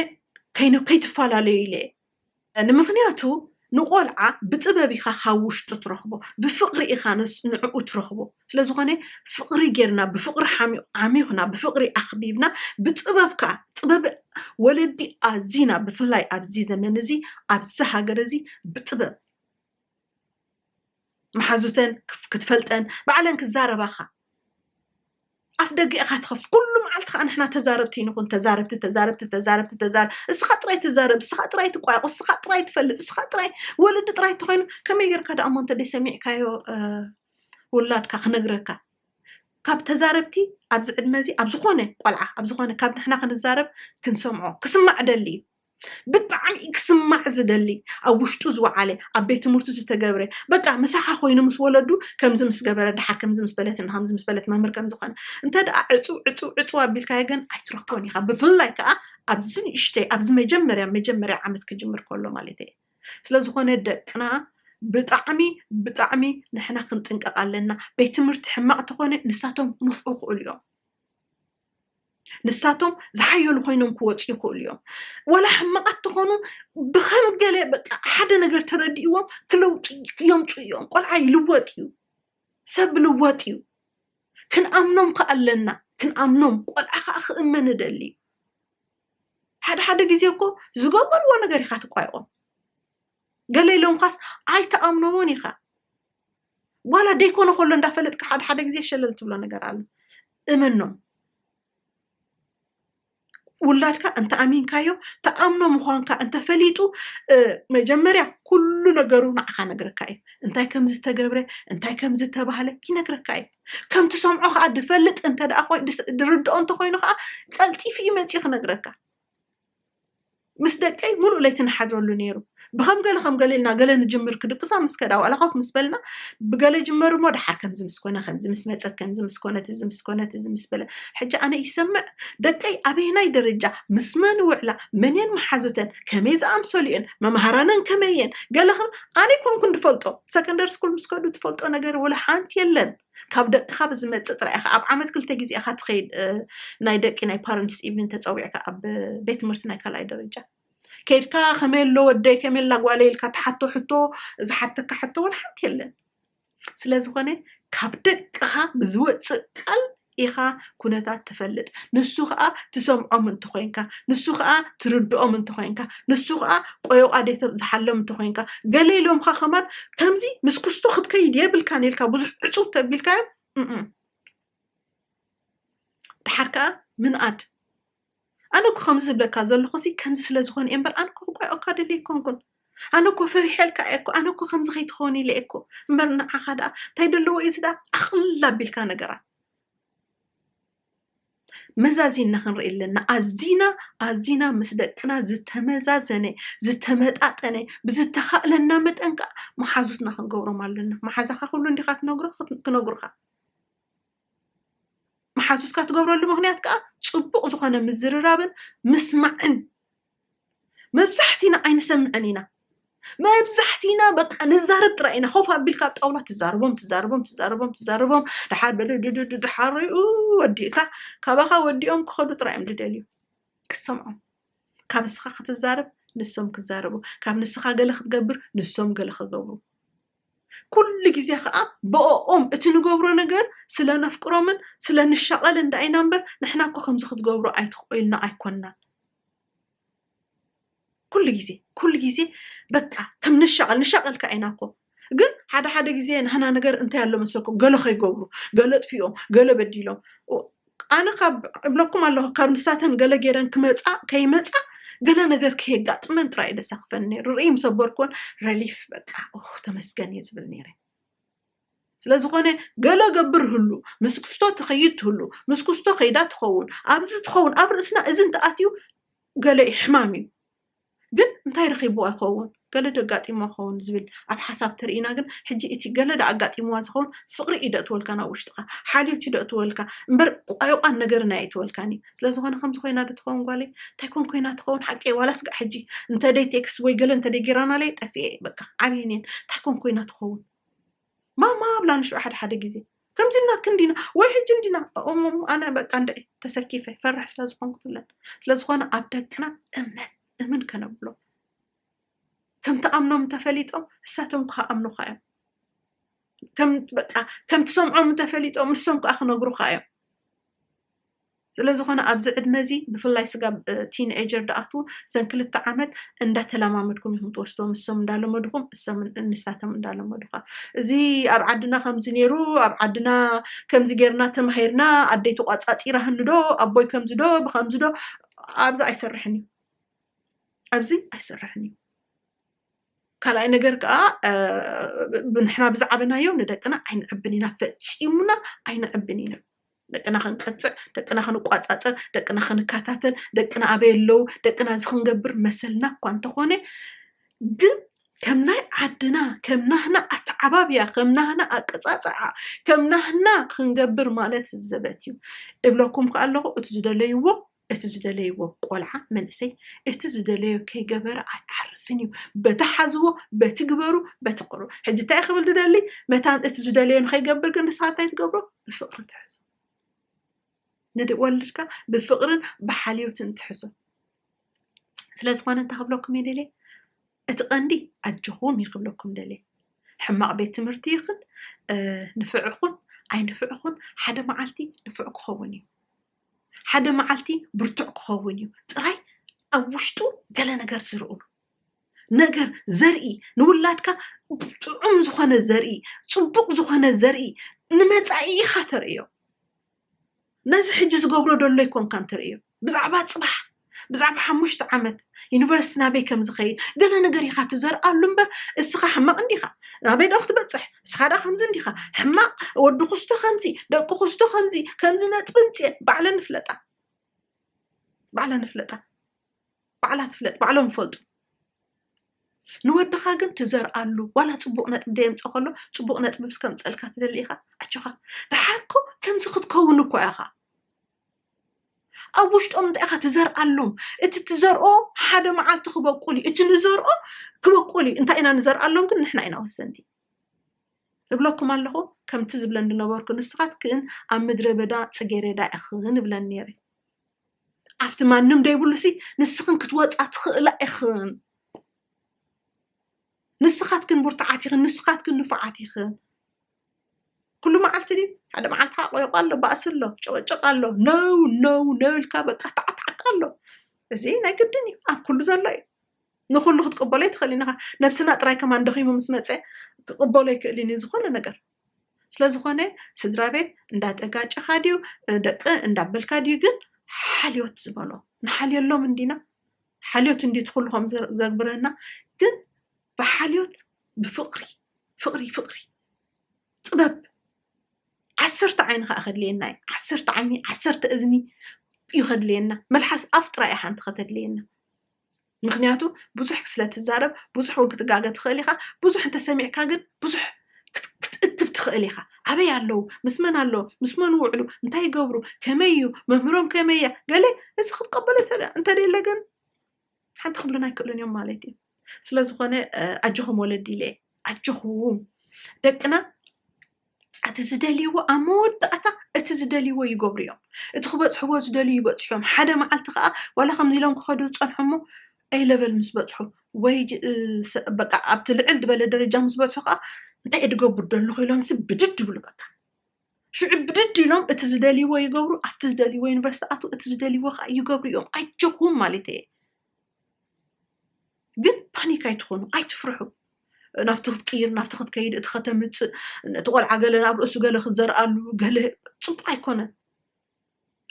ከይነ ከይትፈላለዩ ኢለ ንምክንያቱ ንቆልዓ ብጥበብ ኢካ ካብ ውሽጡ ትረክቦ ብፍቅሪ ኢካ ንዕኡ ትረክቦ ስለዝኮነ ፍቅሪ ጌርና ብፍቅሪ ዓሚኩና ብፍቅሪ ኣክቢብና ብጥበብ ከኣ ጥበብ ወለዲ ኣዚና ብፍላይ ኣብዚ ዘመን እዚ ኣብዚ ሃገር እዚ ብጥበብ መሓዙተን ክትፈልጠን ባዕለን ክዛረባኻ ኣፍ ደገ ኢኻ ትኸፍት ኩሉ መዓልቲ ከዓ ንሕና ተዛረብቲ ንኹን ተዛረብቲ ተዛረብቲ ተዛረብቲ ተዛረብ እስኻ ጥራይ ትዛረብ እስኻ ጥራይ ትቋየቑ እስኻ ጥራይ ትፈልጥ እስኻ ጥራይ ወለዲ ጥራይ ተኮይኑ ከመይ ጌርካ ደኣ እሞ እንተ ሰሚዕካዮ ውላድካ ክነግረካ ካብ ተዛረብቲ ኣብዚ ዕድመ እዚ ኣብ ዝኾነ ቆልዓ ኣብ ዝኾነ ካብ ንሕና ክንዛረብ ክንሰምዖ ክስማዕ ደሊ እዩ ብጣዕሚ ክስማዕ ዝደሊ ኣብ ውሽጡ ዝወዓለ ኣብ ቤት ትምህርቱ ዝተገብረ በቃ ምሳኻ ኮይኑ ምስ ወለዱ ከምዚ ምስ ገበረ ድሓር ከምዚ ምስ በለት እና ከምዚ ምስ በለት መምህር ከም ዝኾነ እንተ ደኣ ዕፁ ዕፁ ዕፁ ኣቢልካዮ ግን ኣይትረክቦን ኢኻ ብፍላይ ከዓ ኣብዚ ንእሽተይ ኣብዚ መጀመርያ መጀመርያ ዓመት ክጅምር ከሎ ማለት እየ ስለ ዝኾነ ደቅና ብጣዕሚ ብጣዕሚ ንሕና ክንጥንቀቕ ኣለና ቤት ትምህርቲ ሕማቕ ተኾነ ንሳቶም ክነፍዑ ይኽእሉ እዮም ንሳቶም ዝሓየሉ ኮይኖም ክወፁ ይኽእሉ እዮም ዋላ ሕማቓት ተኾኑ ብከም ገለ በቃ ሓደ ነገር ተረዲእዎም ክለውጡ የምፁ እዮም ቆልዓ ይልወጥ እዩ ሰብ ልወጥ እዩ ክንኣምኖም ከዓ ኣለና ክንኣምኖም ቆልዓ ከዓ ክእመን እደሊ እዩ ሓደ ሓደ ግዜ እኮ ዝገበርዎ ነገር ኢኻ ትቋይቖም ገለ ኢሎምካስ ኣይተኣምኖዎን ኢኻ ዋላ ደይኮነ ከሎ እንዳፈለጥካ ሓደ ሓደ ግዜ ሸለል ትብሎ ነገር ኣሎ እመኖም ውላድካ እንተ ኣሚንካዮ ተኣምኖ ምዃንካ እንተፈሊጡ መጀመርያ ኩሉ ነገሩ ንዓኻ ነግረካ እዩ እንታይ ከም ዝተገብረ እንታይ ከም ዝተባህለ ይነግረካ እዩ ከም ትሰምዖ ከዓ ድፈልጥ እንተ ድርድኦ እንተኮይኑ ከዓ ቀልጢፉ እዩ መፂኡ ክነግረካ ምስ ደቀይ ሙሉእ ለይቲ ንሓድረሉ ነይሩ ብከም ገለ ከም ገለ ኢልና ገለ ንጅምር ክድቅሳ ምስ ከዳ ዋላ ኮፍ ምስ በልና ብገለ ጅመር እሞ ደሓር ከምዚ ምስ ኮነ ከምዚ ምስ መፀት ከምዚ ምስ ኮነት እዚ ምስ ኮነት እዚ ምስ በለ ሕጂ ኣነ ይሰምዕ ደቀይ ኣበየናይ ደረጃ ምስ መን ውዕላ መንየን መሓዙተን ከመይ ዝኣምሰሉ እየን መምሃራነን ከመይ እየን ገለ ከም ኣነ ኮንኩን ዝፈልጦ ሰከንደሪ ስኩል ምስ ከዱ ትፈልጦ ነገር ወላ ሓንቲ የለን ካብ ደቅኻ ብዝመጽእ ጥራይ ኢኻ ኣብ ዓመት ክልተ ግዜ ኢኻ ትኸይድ ናይ ደቂ ናይ ፓረንትስ ኢቭኒን ተጸዊዕካ ኣብ ቤት ትምህርቲ ናይ ካልኣይ ደረጃ ከይድካ ከመይ ኣሎ ወደይ ከመይ ኣላ ጓለይ ኢልካ ትሓቶ ሕቶ ዝሓተካ ሕቶ እውን ሓንቲ የለን ስለ ዝኾነ ካብ ደቅኻ ብዝወፅእ ቃል ኢኻ ኩነታት ትፈልጥ ንሱ ከኣ ትሰምዖም እንተ ኾይንካ ንሱ ከኣ ትርድኦም እንተ ኾይንካ ንሱ ከኣ ቆዮቅ ኣዴቶም ዝሓሎም እንተ ኾይንካ ገለ ኢሎምካ ከማን ከምዚ ምስ ክስቶ ክትከይድ የብልካን ኢልካ ብዙሕ ዕጹብ ተቢልካዮም እም ድሓር ከኣ ምንኣድ ኣነ እኮ ከምዚ ዝብለካ ዘለኹ ሲ ከምዚ ስለ ዝኾነ እየ እምበር ኣነ እኮ ክቋየቕካ ደልየ ኣይኮንኩን ኣነ እኮ ፈሪሐልካ እየ እኮ ኣነ እኮ ከምዚ ከይትኸውን ኢለ እኮ እምበር ንዓኻ ደኣ እንታይ ደለዎ እዩ እዚ ደኣ ኣቕልል ኣቢልካ ነገራት መዛዚና ክንርኢ ኣለና ኣዚና ኣዚና ምስ ደቅና ዝተመዛዘነ ዝተመጣጠነ ብዝተኻእለና መጠን ከዓ መሓዙትና ክንገብሮም ኣለና መሓዛኻ ኩሉ እንዲኻ ትነግሮ ክነግሩኻ መሓዙትካ ትገብረሉ ምክንያት ከዓ ፅቡቅ ዝኾነ ምዝርራብን ምስማዕን መብዛሕቲና ኣይንሰምዕን ኢና መብዛሕቲና በቃ ንዛረብ ጥራይ ኢና ኮፍ ኣቢልካ ኣብ ጣውላ ትዛረቦም ትዛረቦም ትዛረቦም ትዛረቦም ድሓር በድድድድ ድሓር ወዲእካ ካባኻ ወዲኦም ክኸዱ ጥራይ እዮም ዝደልዩ ክትሰምዖም ካብ ንስኻ ክትዛረብ ንሶም ክዛረቡ ካብ ንስኻ ገለ ክትገብር ንሶም ገለ ክገብሩ ኩሉ ግዜ ከዓ ብኦም እቲ ንገብሮ ነገር ስለ ነፍቅሮምን ስለ ንሻቐልን ዳኢና እምበር ንሕና እኮ ከምዚ ክትገብሩ ኣይትኽእልና ኣይኮንናን ኩሉ ግዜ ኩሉ ግዜ በቃ ከም ንሻቐል ንሻቐል ከ ኢና እኮ ግን ሓደ ሓደ ግዜ ንህና ነገር እንታይ ኣሎ መሰኩም ገለ ከይገብሩ ገለ ጥፊኦም ገለ በዲሎም ኣነ ካብ እብለኩም ኣለኹ ካብ ንሳተን ገለ ገይረን ክመፃ ከይመፃ ገለ ነገር ከየጋጥመን ጥራይ ደሰክፈን ነይሩ ርእይ ምሰበርኮን ረሊፍ በቃ ተመስገን እየ ዝብል ነይረ ስለዝኾነ ገለ ገብር ህሉ ምስ ክስቶ ትኸይድ ትህሉ ምስ ክስቶ ከይዳ ትኸውን ኣብዚ ትኸውን ኣብ ርእስና እዚ እንተኣትዩ ገለ ሕማም እዩ ግን እንታይ ረኺብዋ ይኸውን ገለ ደጋጢምዋ ክኸውን ዝብል ኣብ ሓሳብ ተርእና ግን ሕጂ እቲ ገለ ዳኣጋጢምዋ ዝኸውን ፍቕሪ እዩ ደእትወልካ ናብ ውሽጥኻ ሓልዮት እዩ ደእትወልካ እምበር ቋይቋን ነገርን ኣየእትወልካን እዩ ስለዝኾነ ከምዚ ኮይና ዶ ትኸውን ጓለይ እንታይ ኮን ኮይና ትኸውን ሓቂ ዋላ ስጋዕ ሕጂ እንተደይ ቴክስት ወይ ገለ እንተደይ ጌራናለይ ጠፍኤ በቃ ዓብይን እየን እንታይ ኮን ኮይና ትኸውን ማማ ኣብላ ንሹ ሓደ ሓደ ግዜ ከምዚ እና ክንዲና ወይ ሕጂ እንዲና እሞ ኣነ በቃ እንድዒ ተሰኪፈ ፈራሕ ስለ ዝኾንኩ ትብለን ስለ ዝኾነ ኣብ ደቅና እምነት እምን ከነብሎ ከምቲ ኣምኖም እንተፈሊጦም እሳቶም ከዓ ኣምኑካ እዮም ከም በቃ ከምቲ ሰምዖም እንተፈሊጦም ንሶም ከዓ ክነግሩካ እዮም ስለዝኾነ ኣብዚ ዕድመ እዚ ብፍላይ ስጋብ ቲን ኤጀር ድኣትዉ እዘን ክልተ ዓመት እንዳተላማመድኩም ኢኹም ትወስድዎም እሶም እንዳለመዱኹም እሶም ንሳቶም እንዳለመዱኻ እዚ ኣብ ዓድና ከምዚ ኔሩ ኣብ ዓድና ከምዚ ጌርና ተማሂርና ኣደይ ተቋጻጺራህኒ ዶ ኣቦይ ከምዚ ዶ ብከምዚ ዶ ኣብዚ ኣይሰርሕን እዩ ኣብዚ ኣይሰርሕን እዩ ካልኣይ ነገር ከዓ ንሕና ብዝዓበናዮ ንደቅና ኣይንዕብን ኢና ፈፂሙና ኣይንዕብን ኢና ደቅና ክንቀጽዕ፣ ደቅና ክንቋጻጸር፣ ደቅና ክንከታተል፣ ደቅና ኣበይ ኣለዉ፣ ደቅና እዚ ክንገብር መሰልና እኳ እንተኾነ ግን ከም ናይ ዓድና ከም ናህና ኣተዓባብያ ከም ናህና ኣቀጻጽዓ ከም ናህና ክንገብር ማለት ዘበት እዩ እብለኩም ከ ኣለኹ እቲ ዝደለይዎ እቲ ዝደለይዎ ቆልዓ፣ መንእሰይ፣ እቲ ዝደለዮ ከይገበረ ኣይዓርፍን እዩ። በቲ ሓዝዎ፣ በቲ ግበሩ፣ በቲ ቅርቡ። ሕጂ እንታይ ክብል ዝደሊ፣ መታን እቲ ዝደለዮ ንኸይገብር ግን ንስኻ እንታይ ትገብሮ? ብፍቕሪ ትሕዞ። ንወልድካ ብፍቕርን ብሓልዮትን ትሕዞ። ስለ ዝኾነ እንታይ ክብለኩም እየ ደልየ? እቲ ቀንዲ ኣጆኹም እዩ ክብለኩም ደልየ። ሕማቕ ቤት ትምህርቲ ይኽን ንፍዕኹን ኣይንፍዕኹን ሓደ መዓልቲ ንፍዕ ክኸውን እዩ። ሓደ መዓልቲ ብርቱዕ ክኸውን እዩ ጥራይ ኣብ ውሽጡ ገለ ነገር ዝርእሉ ነገር ዘርኢ ንውላድካ ጥዑም ዝኾነ ዘርኢ ፅቡቕ ዝኾነ ዘርኢ ንመፃኢ ኢኻ ተርእዮ ነዚ ሕጂ ዝገብሮ ደሎ ይኮንካን ትርእዮ ብዛዕባ ፅባሕ ብዛዕባ ሓሙሽተ ዓመት ዩኒቨርስቲ ናበይ ከም ዝኸይድ ገለ ነገር ኢኻ ትዘርኣሉ እምበር እስኻ ሕማቕ እንዲኻ ናበይ ዶ ክትበፅሕ እስኻ ዳ ከምዚ እንዲኻ ሕማቕ ወዲ ኩስቶ ከምዚ ደቂ ኩስቶ ከምዚ ከምዚ ነጥቢ ምፅኤ ባዕለን ንፍለጣ ባዕለን ንፍለጣ ባዕላ ትፍለጥ ባዕሎም ይፈልጡ ንወድኻ ግን ትዘርኣሉ ዋላ ፅቡቅ ነጥቢ ደየምፀ ከሎ ፅቡቅ ነጥቢ ምስ ከምፀልካ ትደሊ ኢኻ ኣጆኻ ደሓርኮ ከምዚ ክትከውን እኳ ኢኻ ኣብ ውሽጦም እንታይ ኢኻ ትዘርኣሎም እቲ ትዘርኦ ሓደ መዓልቲ ክበቁል እዩ እቲ ንዘርኦ ክበቁል እዩ እንታይ ኢና ንዘርኣሎም ግን ንሕና ኢና ወሰንቲ እብለኩም ኣለኹ ከምቲ ዝብለን ዝነበርኩ ንስኻትክን ኣብ ምድረ በዳ ፅጌሬዳ ኢኽን እብለን ነይረ ኣብቲ ማንም ደይብሉ ሲ ንስኽን ክትወፃ ትኽእላ ኢኽን ንስኻትክን ብርቱዓት ኢኽን ንስኻትክን ንፉዓት ኢኽን ኩሉ መዓልቲ ድዩ ሓደ መዓልቲ ሓቆይቆ ኣሎ ባእሲ ኣሎ ጭቕጭቕ ኣሎ ነው ነው ነው ኢልካ በቃ ታዕታዕታዕ ኣሎ እዚ ናይ ግድን እዩ ኣብ ኩሉ ዘሎ እዩ ንኩሉ ክትቅበሎ ኣይትኽእልን ኢኻ ነብስና ጥራይ ከማን ደኺሙ ምስ መፀ ክቕበሎ ኣይክእልን እዩ ዝኾነ ነገር ስለዝኾነ ስድራ ቤት እንዳተጋጨኻ ድዩ ደቂ እንዳበልካ ድዩ ግን ሓልዮት ዝበሎ ንሓልየሎም እንዲና ሓልዮት እንዲ ትኩሉ ከም ዘግብረና ግን ብሓልዮት ብፍቕሪ ፍቕሪ ፍቕሪ ጥበብ ዓሰርተ ዓይኒ ከዓ ከድልየና እዩ ዓሰርተ ዓይኒ ዓሰርተ እዝኒ እዩ ከድልየና መልሓስ ኣፍ ጥራይ እያ ሓንቲ ከተድልየና ምክንያቱ ብዙሕ ስለ ትዛረብ ብዙሕ እውን ክትጋገ ትኽእል ኢኻ ብዙሕ እንተሰሚዕካ ግን ብዙሕ ክትእክብ ትኽእል ኢኻ ኣበይ ኣለዉ ምስ መን ኣለዉ ምስ መን ውዕሉ እንታይ ይገብሩ ከመይ እዩ መምህሮም ከመይ እያ ገለ እዚ ክትቀበሎ እንተደለ ግን ሓንቲ ክብሉና ኣይክእሉን እዮም ማለት እዩ ስለዝኾነ ኣጆኹም ወለዲ ኢለ ኣጆኹም ደቅና እቲ ዝደልይዎ ኣብ መወዳእታ እቲ ዝደልይዎ ይገብሩ እዮም እቲ ክበፅሕዎ ዝደልዩ ይበፅሑ እዮም ሓደ መዓልቲ ከዓ ዋላ ከምዚ ኢሎም ክኸዱ ዝፀንሑ እሞ ኣይ ለበል ምስ በፅሑ ወይ በቃ ኣብቲ ልዕል ዝበለ ደረጃ ምስ በፅሑ ከዓ እንታይ እየ ድገብር ደለኹ ኢሎምሲ ብድድ ይብሉ በቃ ሽዑ ብድድ ኢሎም እቲ ዝደልይዎ ይገብሩ፣ ኣብቲ ዝደልይዎ ዩኒቨርሲቲ ኣቱ፣ እቲ ዝደልይዎ ከዓ ይገብሩ እዮም። ኣይጀኹም ማለት እየ። ግን ፓኒክ ኣይትኾኑ፣ ኣይትፍርሑ። ናብቲ ክትቅይር፣ ናብቲ ክትከይድ፣ እቲ ከተምፅእ፣ ነቲ ቆልዓ ገለ ናብ ርእሱ ገለ ክትዘርኣሉ፣ ገለ ፅቡቅ ኣይኮነን።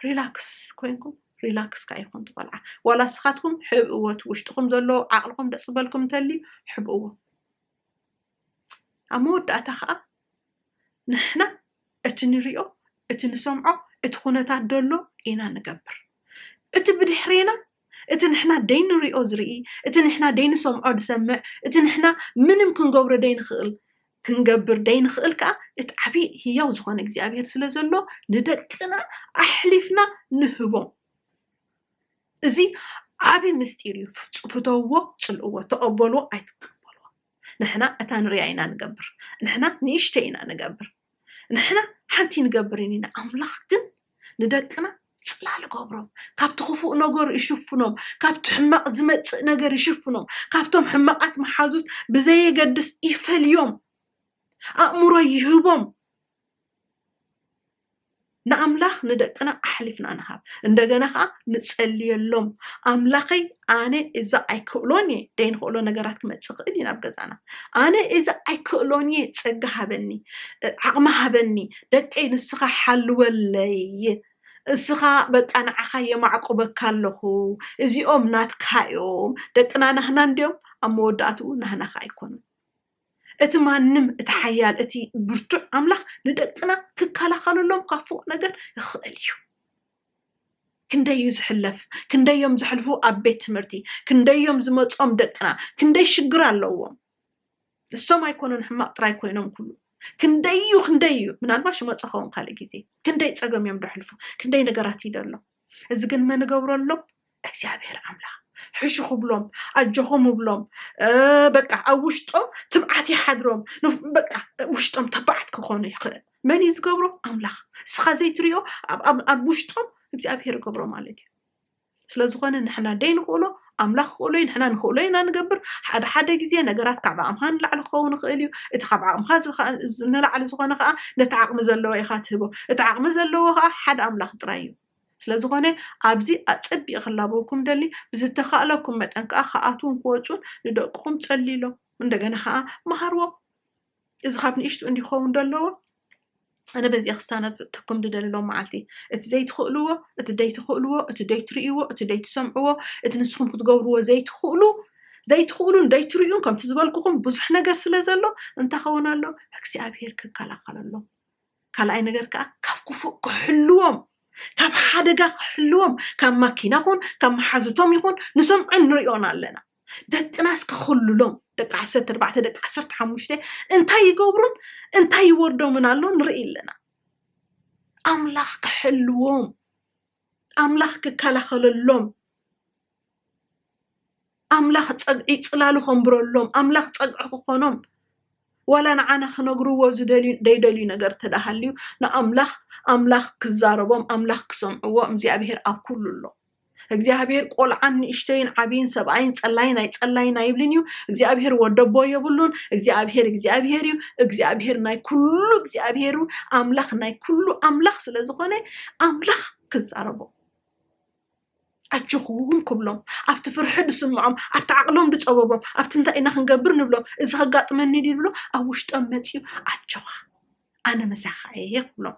ሪላክስ ኮይንኩም ሪላክስ ከዓ ይኹን ትቆልዓ ዋላ ስኻትኩም ሕብእዎ እቲ ውሽጥኹም ዘሎ ዓቕልኹም ደስ ዝበልኩም እንተልዩ ሕብእዎ ኣብ መወዳእታ ኸኣ ንሕና እቲ ንሪኦ፣ እቲ ንሰምዖ፣ እቲ ኩነታት ደሎ ኢና ንገብር። እቲ ብድሕሬና እቲ ንሕና ደይንሪኦ ዝርኢ፣ እቲ ንሕና ደይንሰምዖ ዝሰምዕ፣ እቲ ንሕና ምንም ክንገብሮ ደይንኽእል ክንገብር ደይንኽእል ከኣ እቲ ዓብዪ ህያው ዝኾነ እግዚኣብሄር ስለ ዘሎ ንደቅና ኣሕሊፍና ንህቦም። እዚ ዓቢ ምስጢር እዩ ፍተውዎ ጽልእዎ ተቀበልዎ ኣይትቀበልዎ ንሕና እታ ንርያ ኢና ንገብር ንሕና ንእሽተይ ኢና ንገብር ንሕና ሓንቲ ንገብርን ኢና ኣምላኽ ግን ንደቅና ጽላል ገብሮም ካብቲ ክፉእ ነገሩ ይሽፍኖም ካብቲ ሕማቕ ዝመጽእ ነገር ይሽፍኖም ካብቶም ሕማቓት መሓዙት ብዘየገድስ ይፈልዮም ኣእምሮ ይህቦም ንኣምላኽ ንደቅና ኣሕሊፍና ንሃብ እንደገና ከዓ ንጸልየሎም ኣምላኸይ ኣነ እዚ ኣይክእሎን እየ ደይንክእሎ ነገራት ክመፅእ ይኽእል እዩ ናብ ገዛና ኣነ እዚ ኣይክእሎን እየ ፀጋ ሃበኒ ዓቕሚ ሃበኒ ደቀይ ንስኻ ሓልወለይ እስኻ በቃ ንዓኻ የማዕቁበካ ኣለኹ እዚኦም ናትካ እዮም ደቅና ናህና እንዲዮም ኣብ መወዳእትኡ ናህናኻ ኣይኮኑን እቲ ማንም እቲ ሓያል እቲ ብርቱዕ ኣምላኽ ንደቅና ክከላኸለሎም ካብ ፉቕ ነገር ይኽእል እዩ ክንደይ እዩ ዝሕለፍ ክንደይ እዮም ዘሕልፉ ኣብ ቤት ትምህርቲ ክንደይ እዮም ዝመፆም ደቅና ክንደይ ሽግር ኣለዎም ንሶም ኣይኮኑን ሕማቕ ጥራይ ኮይኖም ኩሉ ክንደይ እዩ ክንደይ እዩ ምናልባሽ መፀኸውን ካልእ ግዜ ክንደይ ፀገም እዮም ደሕልፉ ክንደይ ነገራት ይደሎም እዚ ግን መን እገብረሎም እግዚኣብሔር ኣምላኽ ሕሹ ክብሎም ኣጆኹም እብሎም በቃ ኣብ ውሽጦም ትብዓት ይሓድሮም በቃ ውሽጦም ተባዓት ክኾኑ ይኽእል መን እዩ ዝገብሮ ኣምላኽ እስኻ ዘይትሪዮ ኣብ ውሽጦም እግዚኣብሔር ይገብሮ ማለት እዩ ስለዝኾነ ንሕና ደይ ንኽእሎ ኣምላኽ ክኽእሎ'ዩ፣ ንሕና ንኽእሎ ኢና ንገብር። ሓደ ሓደ ግዜ ነገራት ካብ ዓቕምኻ ንላዕሊ ክኸውን ይኽእል እዩ። እቲ ካብ ዓቕምኻ ንላዕሊ ዝኾነ ከኣ ነቲ ዓቕሚ ዘለዎ ኢኻ ትህቦ። እቲ ዓቕሚ ዘለዎ ከኣ ሓደ ኣምላኽ ጥራይ እዩ። ስለ ዝኾነ ኣብዚ ኣጸቢቐ ክላበወኩም እደሊ፣ ብዝተኻእለኩም መጠን ከኣ ክኣትዉን ክወጹን ንደቅኹም ጸልዩሎም። እንደገና ከኣ መሃርዎም። እዚ ካብ ንእሽቱ እንዲ ክኸውን ደለዎ ኣነ በዚኣ ክሳነትኩም ድደልሎ መዓልቲ እቲ ዘይትኽእልዎ እቲ ደይትኽእልዎ እቲ ደይትርእይዎ እቲ ደይትሰምዕዎ እቲ ንስኹም ክትገብርዎ ዘይትኽእሉ ዘይትኽእሉን ደይትርእዩን ከምቲ ዝበልኩኹም ብዙሕ ነገር ስለ ዘሎ እንታይ ኸውን ኣሎ እግዚኣብሄር ክከላኸለሎም ካልኣይ ነገር ከዓ ካብ ክፉእ ክሕልዎም ካብ ሓደጋ ክሕልዎም ካብ ማኪና ኹን ካብ መሓዝቶም ይኹን ንሰምዖን ንሪኦን ኣለና ደቅናስ ክኽልሎም ደቂ ዓሰርተ ኣርባዕተ ደቂ ዓሰርተ ሓሙሽተ እንታይ ይገብሩን እንታይ ይወርዶምን ኣሎ ንርኢ ኣለና ኣምላኽ ክሕልዎም ኣምላኽ ክከላኸለሎም ኣምላኽ ፀግዒ ፅላሉ ከንብረሎም ኣምላኽ ፀግዒ ክኾኖም ዋላ ንዓና ክነግርዎ ዝደልዩ ዘይደልዩ ነገር ተዳሃልዩ ንኣምላኽ ኣምላኽ ክዛረቦም ኣምላኽ ክሰምዕዎ እግዚኣብሄር ኣብ ኩሉ ኣሎ እግዚኣብሔር ቆልዓን ንእሽተይን ዓብይን ሰብኣይን ጸላይን ኣይጸላይን ኣይብልን እዩ እግዚኣብሔር ወደቦ የብሉን እግዚኣብሔር እግዚኣብሔር እዩ እግዚኣብሔር ናይ ኩሉ እግዚኣብሔሩ ኣምላኽ ናይ ኩሉ ኣምላኽ ስለ ዝኾነ ኣምላኽ ክዛረቦ ኣጆኹም ክብሎም ኣብቲ ፍርሒ ዝስምዖም ኣብቲ ዓቕሎም ዝፀበቦም ኣብቲ እንታይ ኢና ክንገብር ንብሎም እዚ ከጋጥመኒ ድዩ ዝብሎ ኣብ ውሽጦም መፅኡ ኣጆኻ ኣነ ምሳኻ እየ ክብሎም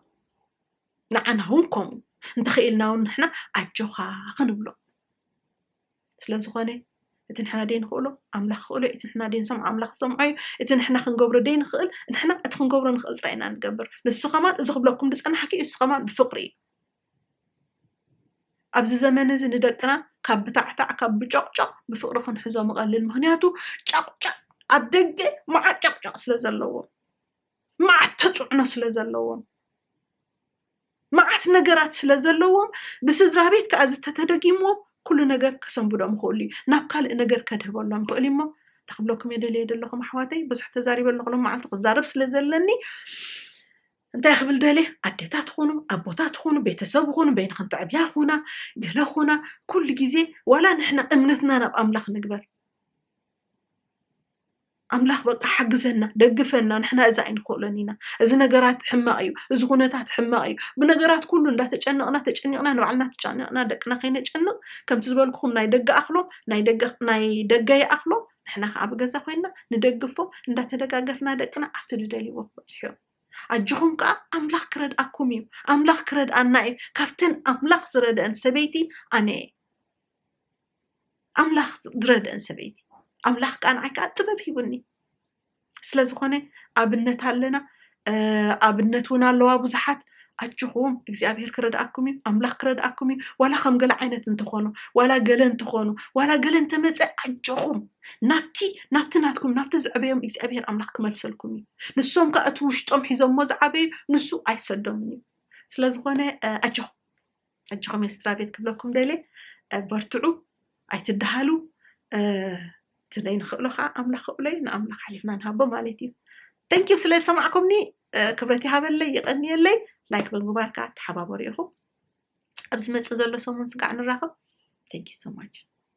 ንዓና ውን ከምኡ እንተኽኢልና ውን ንሕና ኣጆኻ ክንብሎ ስለ ዝኾነ እቲ ንሕና ደይንኽእሎ ኣምላኽ ክኽእሎ እዩ እቲ ንሕና ደይንሰምዖ ኣምላኽ ክሰምዖ እዩ እቲ ንሕና ክንገብሮ ደይንኽእል ንሕና እቲ ክንገብሮ ንኽእል ጥራይ ኢና ንገብር ንሱ ከማን እዚ ክብለኩም ዝጸናሕኪ እዩ ንሱ ከማን ብፍቅሪ እዩ ኣብዚ ዘመን እዚ ንደቅና ካብ ብታዕታዕ ካብ ብጨቕጨቕ ብፍቅሪ ክንሕዞ ምቐልል ምክንያቱ ጨቕጨቕ ኣብ ደገ መዓት ጨቕጨቕ ስለ ዘለዎ መዓት ተፅዕኖ ስለ ዘለዎም መዓት ነገራት ስለ ዘለዎም ብስድራ ቤት ከዓ እዚ ተተደጊምዎም ኩሉ ነገር ከሰንብዶም ይኽእሉ እዩ ናብ ካልእ ነገር ከድህበሎም ይኽእል እዩሞ እንታይ ክብለኩም እየ ደልየ ዘለኹም ኣሕዋተይ ብዙሕ ተዛሪበ ኣለኹ ሎም መዓልቲ ክዛረብ ስለ ዘለኒ እንታይ ክብል ደልየ ኣዴታት ኹኑ ኣቦታት ኹኑ ቤተሰብ ኹኑ በይንኽን ትዕብያ ኹና ገለ ኹና ኩሉ ግዜ ዋላ ንሕና እምነትና ናብ ኣምላኽ ንግበር ኣምላኽ በቃ ሓግዘና ደግፈና ንሕና እዚ ኣይንኽእሎን ኢና እዚ ነገራት ሕማቕ እዩ እዚ ኩነታት ሕማቕ እዩ ብነገራት ኩሉ እንዳተጨነቕና ተጨኒቕና ንባዕልና ተጨኒቕና ደቅና ከይነጨንቕ ከምቲ ዝበልኩኹም ናይ ደገ ኣኽሎም ናይ ደገ ናይ ደገ ይኣኽሎም ንሕና ከዓ ብገዛ ኮይንና ንደግፎም እንዳተደጋገፍና ደቅና ኣብቲ ዝደልይዎ ክበፅሑ ኣጆኹም ከዓ ኣምላኽ ክረድኣኩም እዩ ኣምላኽ ክረድኣና እዩ ካብተን ኣምላኽ ዝረድአን ሰበይቲ ኣነ እየ ኣምላኽ ዝረደን ሰበይቲ ኣምላኽ ከዓ ንዓይ ከዓ ጥበብ ሂቡኒ ስለ ዝኾነ ኣብነት ኣለና ኣብነት እውን ኣለዋ ብዙሓት ኣጆኹም እግዚኣብሄር ክረድኣኩም እዩ ኣምላኽ ክረድኣኩም እዩ ዋላ ከም ገለ ዓይነት እንተኾኑ ዋላ ገለ እንተኾኑ ዋላ ገለ እንተመፀ ኣጆኹም ናብቲ ናብቲ ናትኩም ናብቲ ዝዕበዮም እግዚኣብሄር ኣምላኽ ክመልሰልኩም እዩ ንሶም ከዓ እቲ ውሽጦም ሒዞሞ ዝዓበዩ ንሱ ኣይሰዶምን እዩ ስለዝኾነ ኣጆኹም ሕጂ ከመይ ስድራቤት ክብለኩም ደልየ በርትዑ ኣይትደሃሉ እቲ ዘይንኽእሎ ከዓ ኣምላኽ ክእሎ እዩ ንኣምላኽ ሓሊፍና ንሃቦ ማለት እዩ ተንኪዩ ስለ ዝሰማዕኩምኒ ክብረት ይሃበለይ ይቐንየለይ ላይክ ብምግባር ከዓ ተሓባበሩ ኢኹም ኣብ ዝመፅእ ዘሎ ሰሙን ስጋዕ ንራኸብ ተንኪዩ ሶማች